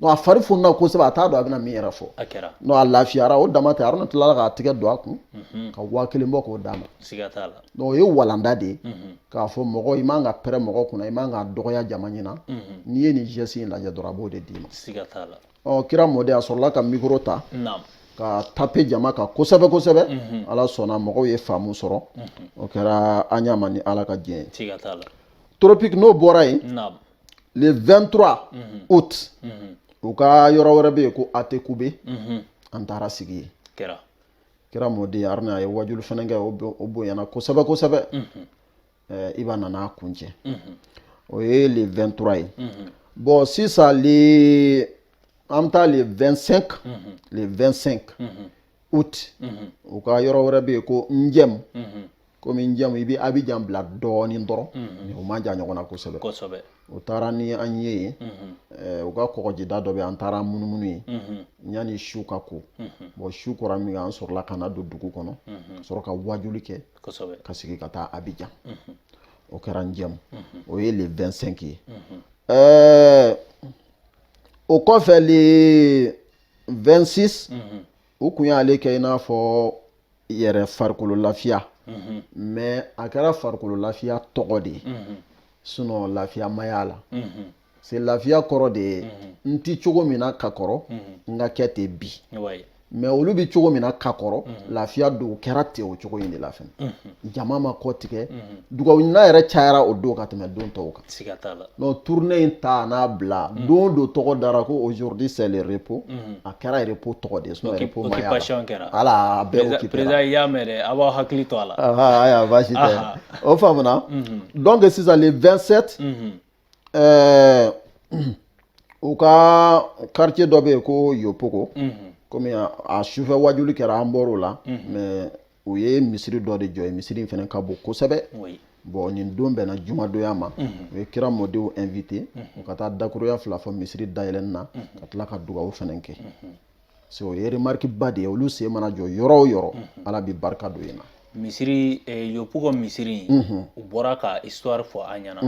a fari funna kosɛbɛ a t'a dɔn a bɛna min yɛrɛ fɔ a kɛra non a lafiyara o dama tɛ aruna tilala k'a tɛgɛ don a kun mhm. ka waa kelen bɔ k'o d'a ma siga t'a la donc o ye walanda de ye mhm. k'a fɔ mɔgɔ i man ka pɛrɛ mɔgɔ kunna i man ka dɔgɔya jama ɲɛna mhm. n'i ye nin geste in lajɛ dɔrɔn a b'o de d'i ma siga t'a la ɔ kira mɔden a sɔrɔla ka mikoro ta ka tape jama kan kosɛbɛ kosɛbɛ ala sɔnna mɔgɔw ye faamu sɔrɔ o kɛra aɲama ni ala ka diɲɛ ye tropique n'o bɔra yen le 23 août u ka yɔrɔ wɛrɛ bɛ yen ko atekube an taara sigi yen kira kira mɔden aruna a ye wajulu fɛnɛ kɛ o bonyana kosɛbɛ kosɛbɛ iba nan'a kuncɛ o ye le 23 ye bɔn sisan le an bɛ taa le 25 le 25 août u ka yɔrɔ wɛrɛ bɛ yen ko njɛmu komi njɛmu i bɛ abijan bila dɔɔnin dɔrɔn mais u man jan ɲɔgɔn na kosɛbɛ kosɛbɛ u taara ni an ye yen eh, u ka kɔgɔjida dɔ bɛ yen, an taara munumunu yen yanni su ka ko bɔn su kora min kɛ an sɔrɔla ka na don dugu kɔnɔ ka sɔrɔ ka wajuli kɛ kosɛbɛ ka sigi ka taa abijan o kɛra njɛmu o ye le 25 ye Eh, o kɔfɛ le 26 u kun y'ale kɛ i n'a fɔ yɛrɛ farikolo lafiya mais a kɛra farikolo lafiya tɔgɔ de ye sinon lafiya ma y'a la c'est lafiya kɔrɔ de ye n ti cogo min na ka kɔrɔ n ka kɛ ten bi mais olu bi cogo min na ka kɔrɔ lafiya don kɛra ten o cogo in de la fɛnɛ jama ma kɔ tigɛ dugawu ɲin yɛrɛ cayara o don ka tɛmɛ don tɔw kan siga t'a la non tournée in ta n'a bila mm. don dɔ tɔgɔ dara ko aujourd'hui c'est le repos mm. a kɛra repos tɔgɔ de sinon repos ma occupation kɛra a la a bɛɛ occupé président i y'a mɛn dɛ a b'aw hakili to a la aya baasi tɛ o faamuna mm-hmm. donc sisan le 27 mm-hmm. euh, u ka quartier dɔ bɛ yen ko yopoko mm-hmm. komi a sufɛ wajuli kɛra an bɔr'o la mais u ye misiri dɔ de jɔ yen misiri in fɛnɛ ka bon kosɛbɛ bɔn nin don bɛnna jumadonya ma mhm. u ye kira mɔdenw invité mhm. u ka taa dakuruya fila fɔ misiri dayɛlɛni na mhm. ka tila ka dugawu fɛnɛ kɛ c'est o ye remarque ba de ye olu sen mana jɔ yɔrɔ o yɔrɔ ala bɛ barika don yen na misiri eh, yopoko misiri in u bɔra ka histoire fɔ an ɲɛna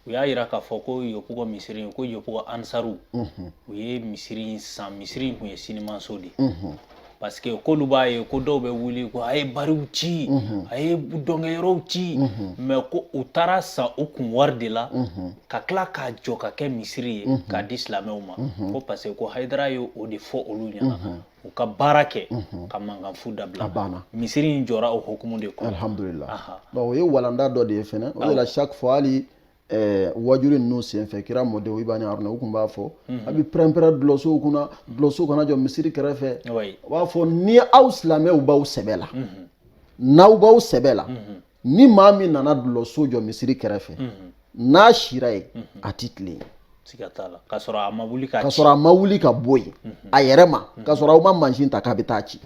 u y'a yira k'a fɔ ko yopoko misiri in ko yopoko ansaru u ye misiri in san misiri in kun ye sinimanso de ye parce que k'olu b'a ye ko dɔw bɛ wuli ko a ye bariw ci mhm. a ye dɔnkɛyɔrɔw ci mhm. mais ko u taar'a san u kun wari de la mhm. ka tila k'a jɔ ka kɛ misiri ye k'a di silamɛw ma ko parce que ko hayidara ye o de fɔ olu ɲɛna u ka baara kɛ ka mankanfu dabila misiri in jɔra o hukumu de kɔnɔ alhamdulila o ye walanda dɔ de ye fɛnɛ o de la chaque fois hali ɛɛ wajuli ninnu senfɛ kira mɔdenw iba ni aruna u kun b'a fɔ mhm. a bi pɛrɛnpɛrɛn dulɔsow kunna dulɔsow kana jɔ misiri kɛrɛfɛ u b'a fɔ ni aw silamɛw b'aw sɛbɛ la mhm. n'aw b'aw sɛbɛ la mhm. ni maa min nana dulɔso jɔ misiri kɛrɛfɛ n'a sira yen a ti tilen yen ka sɔrɔ a ma wuli ka bɔ yen a yɛrɛ ma ka sɔrɔ aw ma mansin ta k'a bɛ taa ci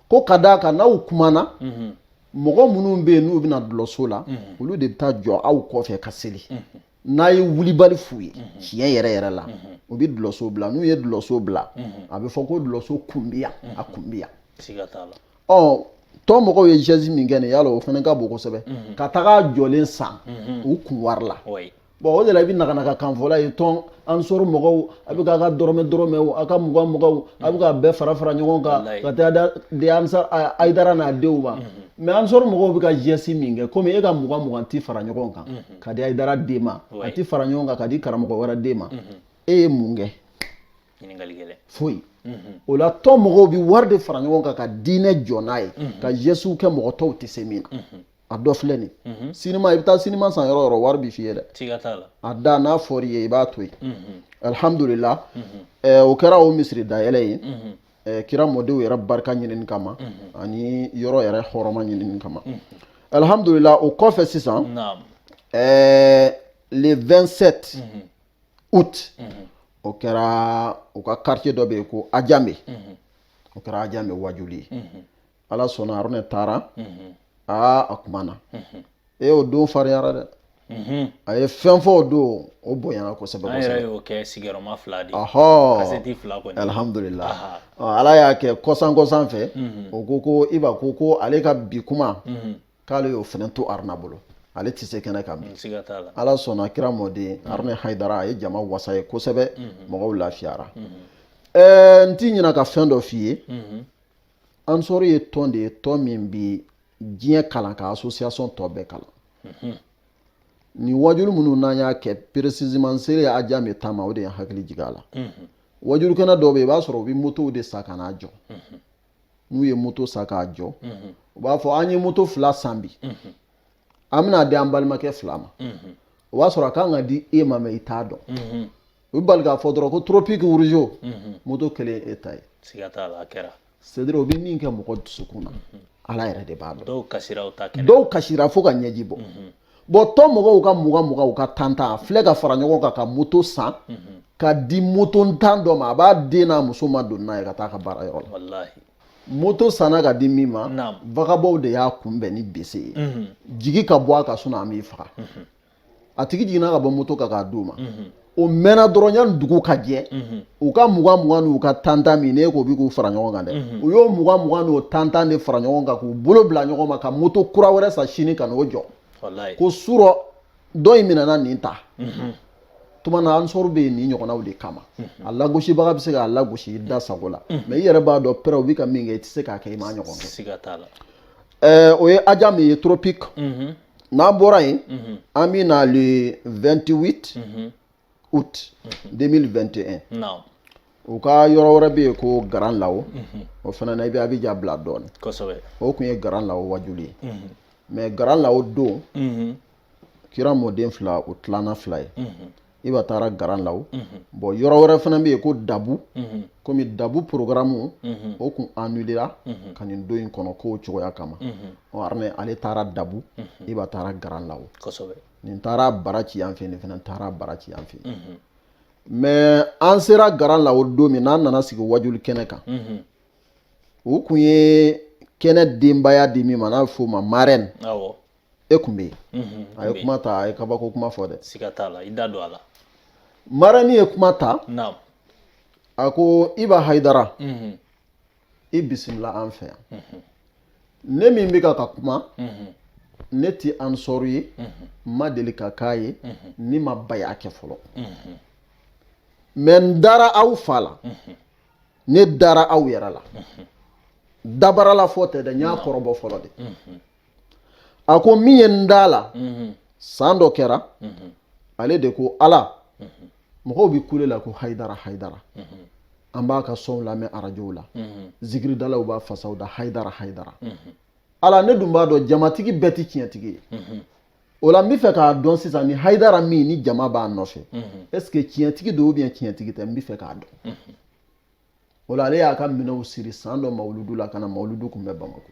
ko ka d'a kan n'aw kumana mɔgɔ minnu bɛ yen n'u bɛna dulɔso la olu de bɛ taa jɔ aw kɔfɛ ka seli n'a ye wulibali f'u ye tiɲɛ yɛrɛ yɛrɛ la u bɛ dulɔso bila n'u ye dulɔso bila a bɛ fɔ ko dulɔso kun bɛ yan a kun bɛ yan ɔ tɔn mɔgɔw ye geste min kɛ nin yala o fana ka bon kosɛbɛ ka taga jɔlen san u kun wari la bon o de la i bɛ nakanaka kan fɔla ye tɔn ansar mɔgɔw a bɛ k'a ka dɔrɔmɛ dɔrɔmɛ o a ka mugan muganw a bɛ k'a bɛɛ fara fara ɲɔgɔn kan ka taa a di ansar ayidara n'a denw ma mais ansar mɔgɔw bɛ ka geste min kɛ komi e ka mugan mugan tɛ fara ɲɔgɔn kan ka di ayidara den ma a tɛ fara ɲɔgɔn kan ka di karamɔgɔ wɛrɛ den ma e ye mun kɛ foyi o la tɔn mɔgɔw bɛ wari de fara ɲɔgɔn kan ka diinɛ jɔ n'a ye ka gestew kɛ mɔgɔ tɔw tɛ se min na a dɔ filɛ nin mhm. sinima i bɛ taa sinima san yɔrɔ yɔrɔ wari bɛ f'i ye dɛ a da n'a fɔr'i ye i b'a to yen mhm. alihamudulila mhm. o kɛra o misiri dayɛlɛ ye kira mɔdenw yɛrɛ barika ɲinini kama ani yɔrɔ yɛrɛ hɔrɔma ɲinini kama alihamudulila o kɔfɛ sisan le 27 août o kɛra u ka quartier dɔ bɛ yen ko ajame o kɛra ajame wajuli ye ala sɔnna aruna taara aa a kumana e o don fariyara dɛ a ye fɛn fɔ o don o bonyana kosɛbɛ alihamdulila ala y'a kɛ kɔsan kɔsan fɛ o ko ko iba ko ko ale ka bi kuma k'ale y'o fana to aruna bolo ale tɛ se kɛnɛ kan bi ala sɔnna kira mɔden aruna ayidara a ye jama wasa ye kosɛbɛ mɔgɔw lafiyara ɛɛ n tɛ ɲina ka fɛn dɔ f'i ye ansar ye tɔn de ye tɔn min bɛ diɲɛ kalan ka association tɔ bɛɛ kalan mhm. nin wajuli minnu n'an y'a kɛ précisément seere ye ajame taama o de ye hakili jigin a la mhm. wajulikɛnɛ dɔw bɛ yen i b'a sɔrɔ u bɛ motow de san ka n'a jɔ mhm. n'u ye moto san k'a jɔ u b'a fɔ an ye moto fila san bi an bɛn'a di an balimakɛ fila ma o b'a sɔrɔ a kan ka di e ma mais i t'a dɔn u bɛ bali k'a fɔ dɔrɔn ko toropiki wuruzo moto kelen e ta ye siga t'a la a kɛra c'est à dire o bɛ min kɛ mɔgɔ dusukun na ala yɛrɛ de b'a dɔn dɔw kasira o ta kɛra dɔw kasira fo ka ɲɛji bɔ bon tɔn mɔgɔw ka mugan mugan u ka tan tan a filɛ ka fara ɲɔgɔn kan ka moto san ka di motontan dɔ ma a b'a den n'a muso madon n'a ye ka taa a ka baarayɔrɔ la walahi moto sanna ka di min ma vagabɔnw de y'a kunbɛn ni bese ye mhm. jigin ka bɔ a kan sinon an b'i faga mhm. a tigi jiginna ka bɔ moto kan k'a d'u ma mhm. o mɛnna dɔrɔn yanni dugu ka jɛ u ka mugan mugan n'u ka tantan min ne ko bi k'u fara ɲɔgɔn kan dɛ u y'o mugan mugan n'o tantan de fara ɲɔgɔn kan k'u bolo bila ɲɔgɔn ma ka moto kura wɛrɛ san sini ka n'o jɔ ko surɔ dɔ in minɛna nin ta tuma na ansaru bɛ yen nin ɲɔgɔnnaw de kama mhm. a lagosibaga bɛ se k'a lagosi i da sago la mhm. mais i yɛrɛ b'a dɔn pɛrɛw bɛ ka min kɛ i tɛ se k'a kɛ i m'a ɲɔgɔn kɛ o ye ajame ye tropique mhm. n'an bɔra yen an bɛ na le 28 août 2021 u ka yɔrɔ wɛrɛ bɛ yen ko garan lawo o fana na i bɛ abijan bila dɔɔnin o tun ye garan lawo wajuli ye mais garan lawo don kira mɔden fila o tilana fila ye iba taara garan lawo bon yɔrɔ wɛrɛ fana bɛ yen ko dabu komi dabu porogaramu o tun annulera ka nin don in kɔnɔ ko cogoya kama ɔ ale taara dabu iba taara garan lawo nin taara bara ci yan fɛ nin fana taara bara ci yan fɛ mais an sera garan lawo don min n'an nana sigi wajuli kɛnɛ kan u tun ye kɛnɛ denbaya di min ma n'a bɛ f'o ma marraine e kun bɛ yen a ye kuma ta a ye kabako kuma fɔ dɛ siga t'a la i da don a la marraine ye kuma ta a ko iba hayidara i bisimila an fɛ yan ne min bɛ ka ka kuma ne tɛ ansaru ye n ma deli ka k'a ye ne ma baya kɛ fɔlɔ mais n dara aw fa la ne dara aw yɛrɛ la dabarala fɔ tɛ dɛ n y'a kɔrɔbɔ fɔlɔ de a ko min ye n d'a la mhm. san dɔ kɛra mhm. ale de ko ala mhm. mɔgɔw bɛ kule la ko hayidara hayidara an b'a ka sɔnw lamɛn arajow la zikiridalaw b'a fasaw da hayidara hayidara ala ne dun b'a dɔn jamatigi bɛɛ tɛ tiɲɛtigi ye o la n bɛ fɛ k'a dɔn sisan ni hayidara min ni jama b'a nɔfɛ est-ce que tiɲɛtigi don ou bien tiɲɛtigi tɛ n bɛ fɛ k'a dɔn o la ale y'a ka minɛnw siri san dɔ mawuludu la ka na mawuludu kunbɛn bamakɔ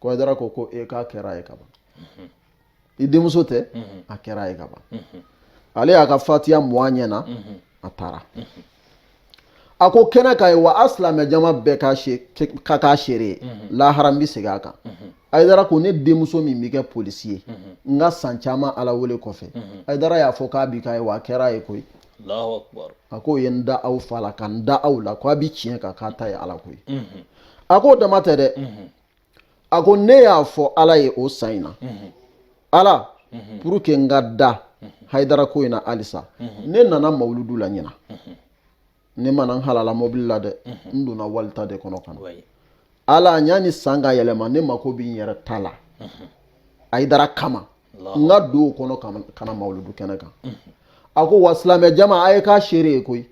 ko hayidara ko ko e k'a kɛra a ye kaban i denmuso tɛ a kɛra a ye kaban ale y'a ka fatiya mɔn a ɲɛ na a taara a ko kɛnɛ ka ye wa a silamɛ jama bɛɛ ka k'a seere ye lahara n bɛ segin a kan hayidara ko ne denmuso min bɛ kɛ polisi ye n ka san caman ala wele kɔfɛ hayidara y'a fɔ k'a bi k'a ye wa a kɛra a ye koyi a k'o ye n da aw fa la ka n da aw la k'a bi tiɲɛ kan k'a ta ye ala koyi a k'o dama tɛ dɛ a ko ne y'a fɔ ala ye o san in na ala pour que n ka da hayidara ko in na halisa ne nana mawuludu la ɲina ne ma na n halala mobili la dɛ n donna wali ta de kɔnɔ ka na ala yani san ka yɛlɛma ne mako bɛ n yɛrɛ ta la hayidara kama n ka don o kɔnɔ ka na mawuludu kɛnɛ kan a ko wa silamɛ jama a ye k'a seere ye koyi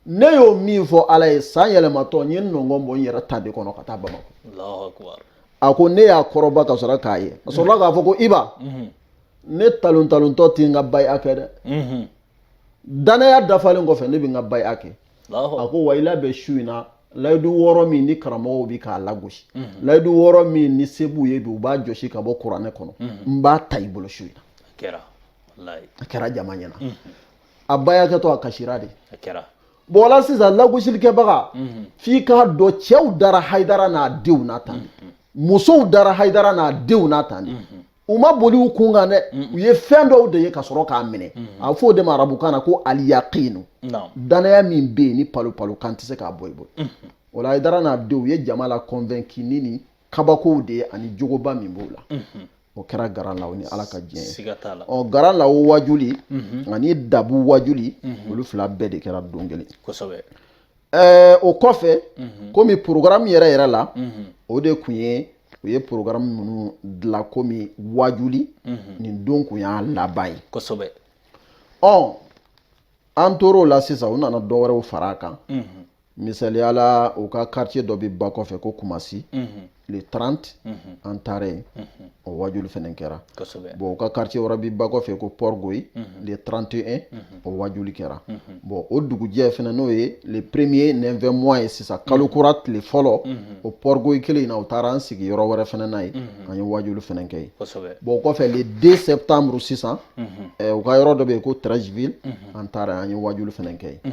ne y'o min fɔ ala ye san yɛlɛmatɔ n ye nɔngɔn bɔ n yɛrɛ ta de kɔnɔ ka taa bamakɔ a ko ne y'a kɔrɔbɔ ka sɔrɔ k'a ye a sɔrɔla k'a fɔ ko iba mhm. ne talon talontɔ tɛ n ka baya kɛ dɛ mhm. danaya dafalen kɔfɛ ne bɛ n ka baya kɛ a ko wa i labɛn su in na layidu wɔɔrɔ min ni karamɔgɔw bɛ k'a lagosi mhm. layidu wɔɔrɔ min ni se b'u ye bi u b'a jɔsi ka bɔ kuranɛ kɔnɔ n b'a ta i bolo su in na a kɛra jama ɲɛna a baya kɛtɔ a kasira de a kɛra bon o la sisan lagosilikɛbaga f'i k'a dɔn cɛw dara hayidara n'a denw na tan de musow dara hayidara n'a denw na tan de u ma boli u kun kan dɛ u ye fɛn dɔw de ye ka sɔrɔ k'a minɛ a bɛ fɔ o de ma arabukan na ko aliyakinu naamu danaya min bɛ yen ni palo palo kan tɛ se k'a bɔ i bolo o la hayidara n'a denw u ye jama la kɔnvɛnki ni nin kabakow de ye ani jogoba min b'o la o kɛra grand-lahou ni ala ka diɲɛ ye ɔ grand-lahou wajuli mhm. ani dabu wajuli mhm. olu fila bɛɛ de kɛra don kelen ɛɛ o kɔfɛ mhm. komi porogaramu yɛrɛ yɛrɛ la o de kun ye u ye porogaramu minnu dilan komi wajuli nin don kun y'a laban ye kosɛbɛ ɔ an tor'o la sisan u nana dɔ wɛrɛw fara a kan misaliya la u ka quartier dɔ bɛ ba kɔfɛ ko kumasi mhm. le 30 mhm. an taara yen mhm. o wajuli fɛnɛ kɛra bon u ka quartier wɛrɛ bɛ ba kɔfɛ ko port-bouët le 31 o wajuli kɛra bon o dugujɛ fɛnɛ n'o ye le premier 9 mois ye sisan kalo kura tile fɔlɔ o port-bouët kelen in na u taara an sigi yɔrɔ wɛrɛ fɛnɛ na yen an ye wajuli fɛnɛ kɛ yen bon o kɔfɛ le 2 septembre sisan eh, u ka yɔrɔ dɔ bɛ yen ko treichville an taara an ye wajuli fɛnɛ kɛ yen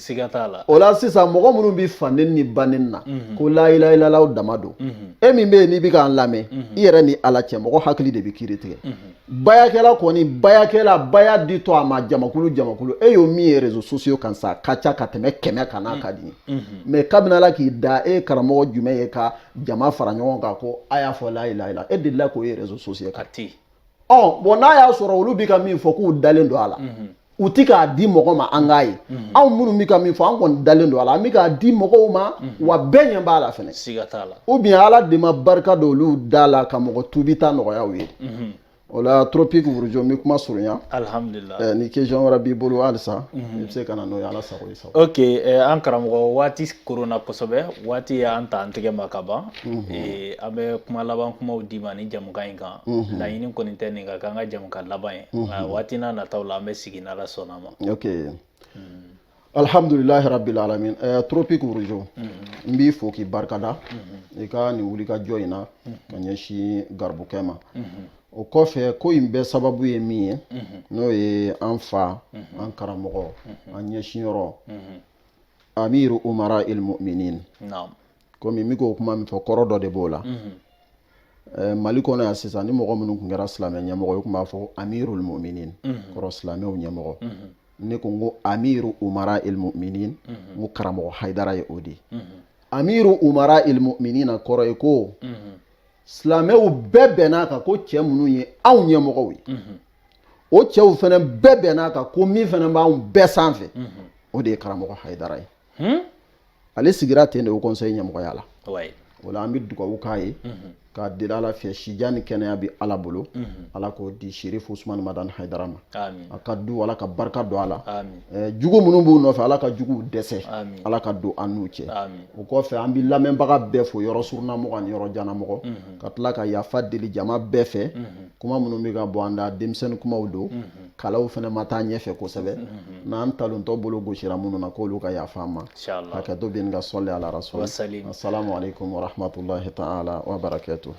siga t'a la o la sisan mɔgɔ minnu bɛ fa nɛni ba nɛni na mhm. ko layilayilalaw dama don mhm. e min bɛ yen n'i bɛ k'an lamɛn mhm. i yɛrɛ ni ala cɛ mɔgɔ hakili de bɛ kiri tigɛ bayakɛla kɔni bayakɛla baya di to a ma jamakulu jamakulu e y'o min ye rezo sosiyo kan sa a ka ca ka tɛmɛ kɛmɛ kan n'a ka d'i ye mɛ kabini ala k'i da e karamɔgɔ jumɛn ye ka jama fara ɲɔgɔn kan ko a y'a fɔ layilayila e delila k'o ye rezo sosiyo kan ɔ bɔn n'a y'a sɔrɔ olu bɛ ka min fɔ k'u dalen don a la mhm. u ti k'a di mɔgɔ ma an k'a ye mhm. anw minnu bɛ ka min fɔ an kɔni dalen don a la an bɛ k'a di mɔgɔw ma mhm. wa bɛɛ ɲɛ b'a la fɛnɛ ou bien ala de ma barika don olu da la ka mɔgɔ tubi ta nɔgɔya u ye o la tropique wurujo n bɛ kuma surunya alihamdulilahi ni kesiyɔn wɛrɛ b'i bolo halisa i bɛ se ka na n'o ye ala sago i sago ok an karamɔgɔ waati koronna kosɛbɛ waati y'an ta an tɛgɛ ma ka ban an bɛ kuma laban kuma d'i ma ni jamukan in kan laɲini kɔni tɛ nin ka kɛ an ka jamukan laban ye waati n'a nataw la an bɛ sigi n'ala sɔnna a ma ok alihamdulilahi rabili alamina tropique wurujo n b'i fo k'i barika da i ka nin wulikajɔ in na ka ɲɛsin garibukɛ ma o kɔfɛ ko in bɛɛ sababu ye min ye n'o ye an fa an karamɔgɔ an ɲɛsinyɔrɔ amiru umara ilmuminin komi n bɛ k'o kuma min fɔ kɔrɔ dɔ de b'o la mali kɔnɔ yan sisan ni mɔgɔ minnu tun kɛra silamɛ ɲɛmɔgɔ ye tun b'a fɔ amiru ilmuminin kɔrɔ silamɛw ɲɛmɔgɔ ne ko n ko amiru umara ilmuminin n ko karamɔgɔ haidara ye o de ye amiru umara ilmuminin na kɔrɔ ye ko silamɛw bɛɛ bɛn'a kan ko cɛ minnu ye anw ɲɛmɔgɔw ye mhm. o cɛw fana bɛɛ bɛn'a kan ko min fana b'anw bɛɛ sanfɛ mhm. o de ye karamɔgɔ hayidara ye hmm? ale sigira ten de o kɔnsɛyi ɲɛmɔgɔya la o la an bɛ dugawu k'a ye mhm. k'a deli ala fɛ sijan ni kɛnɛya bɛ ala bolo ala k'o di sherif usumani madani hayidara ma a ka du ala ka barika don a la jugu minnu b'u nɔfɛ ala ka juguw dɛsɛ ala ka don an n'u cɛ o kɔfɛ an bɛ lamɛnbaga bɛɛ fo yɔrɔ surunamɔgɔ ani yɔrɔ janamɔgɔ mhm. ka tila ka yafa deli jama bɛɛ fɛ mhm. kuma minnu bɛ ka bɔ an da denmisɛnnin kumaw don mhm. kalanw fana ma taa ɲɛfɛ kosɛbɛ n'an talontɔ bolo gosira minnu na k'olu ka yafa an ma hakɛto bɛ nin ka sɔli ala rasuli asalamu aleykum wa rahmatulahi ta'ala wa barakatu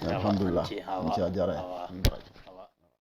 alhamdulilah n cɛ a diyara ye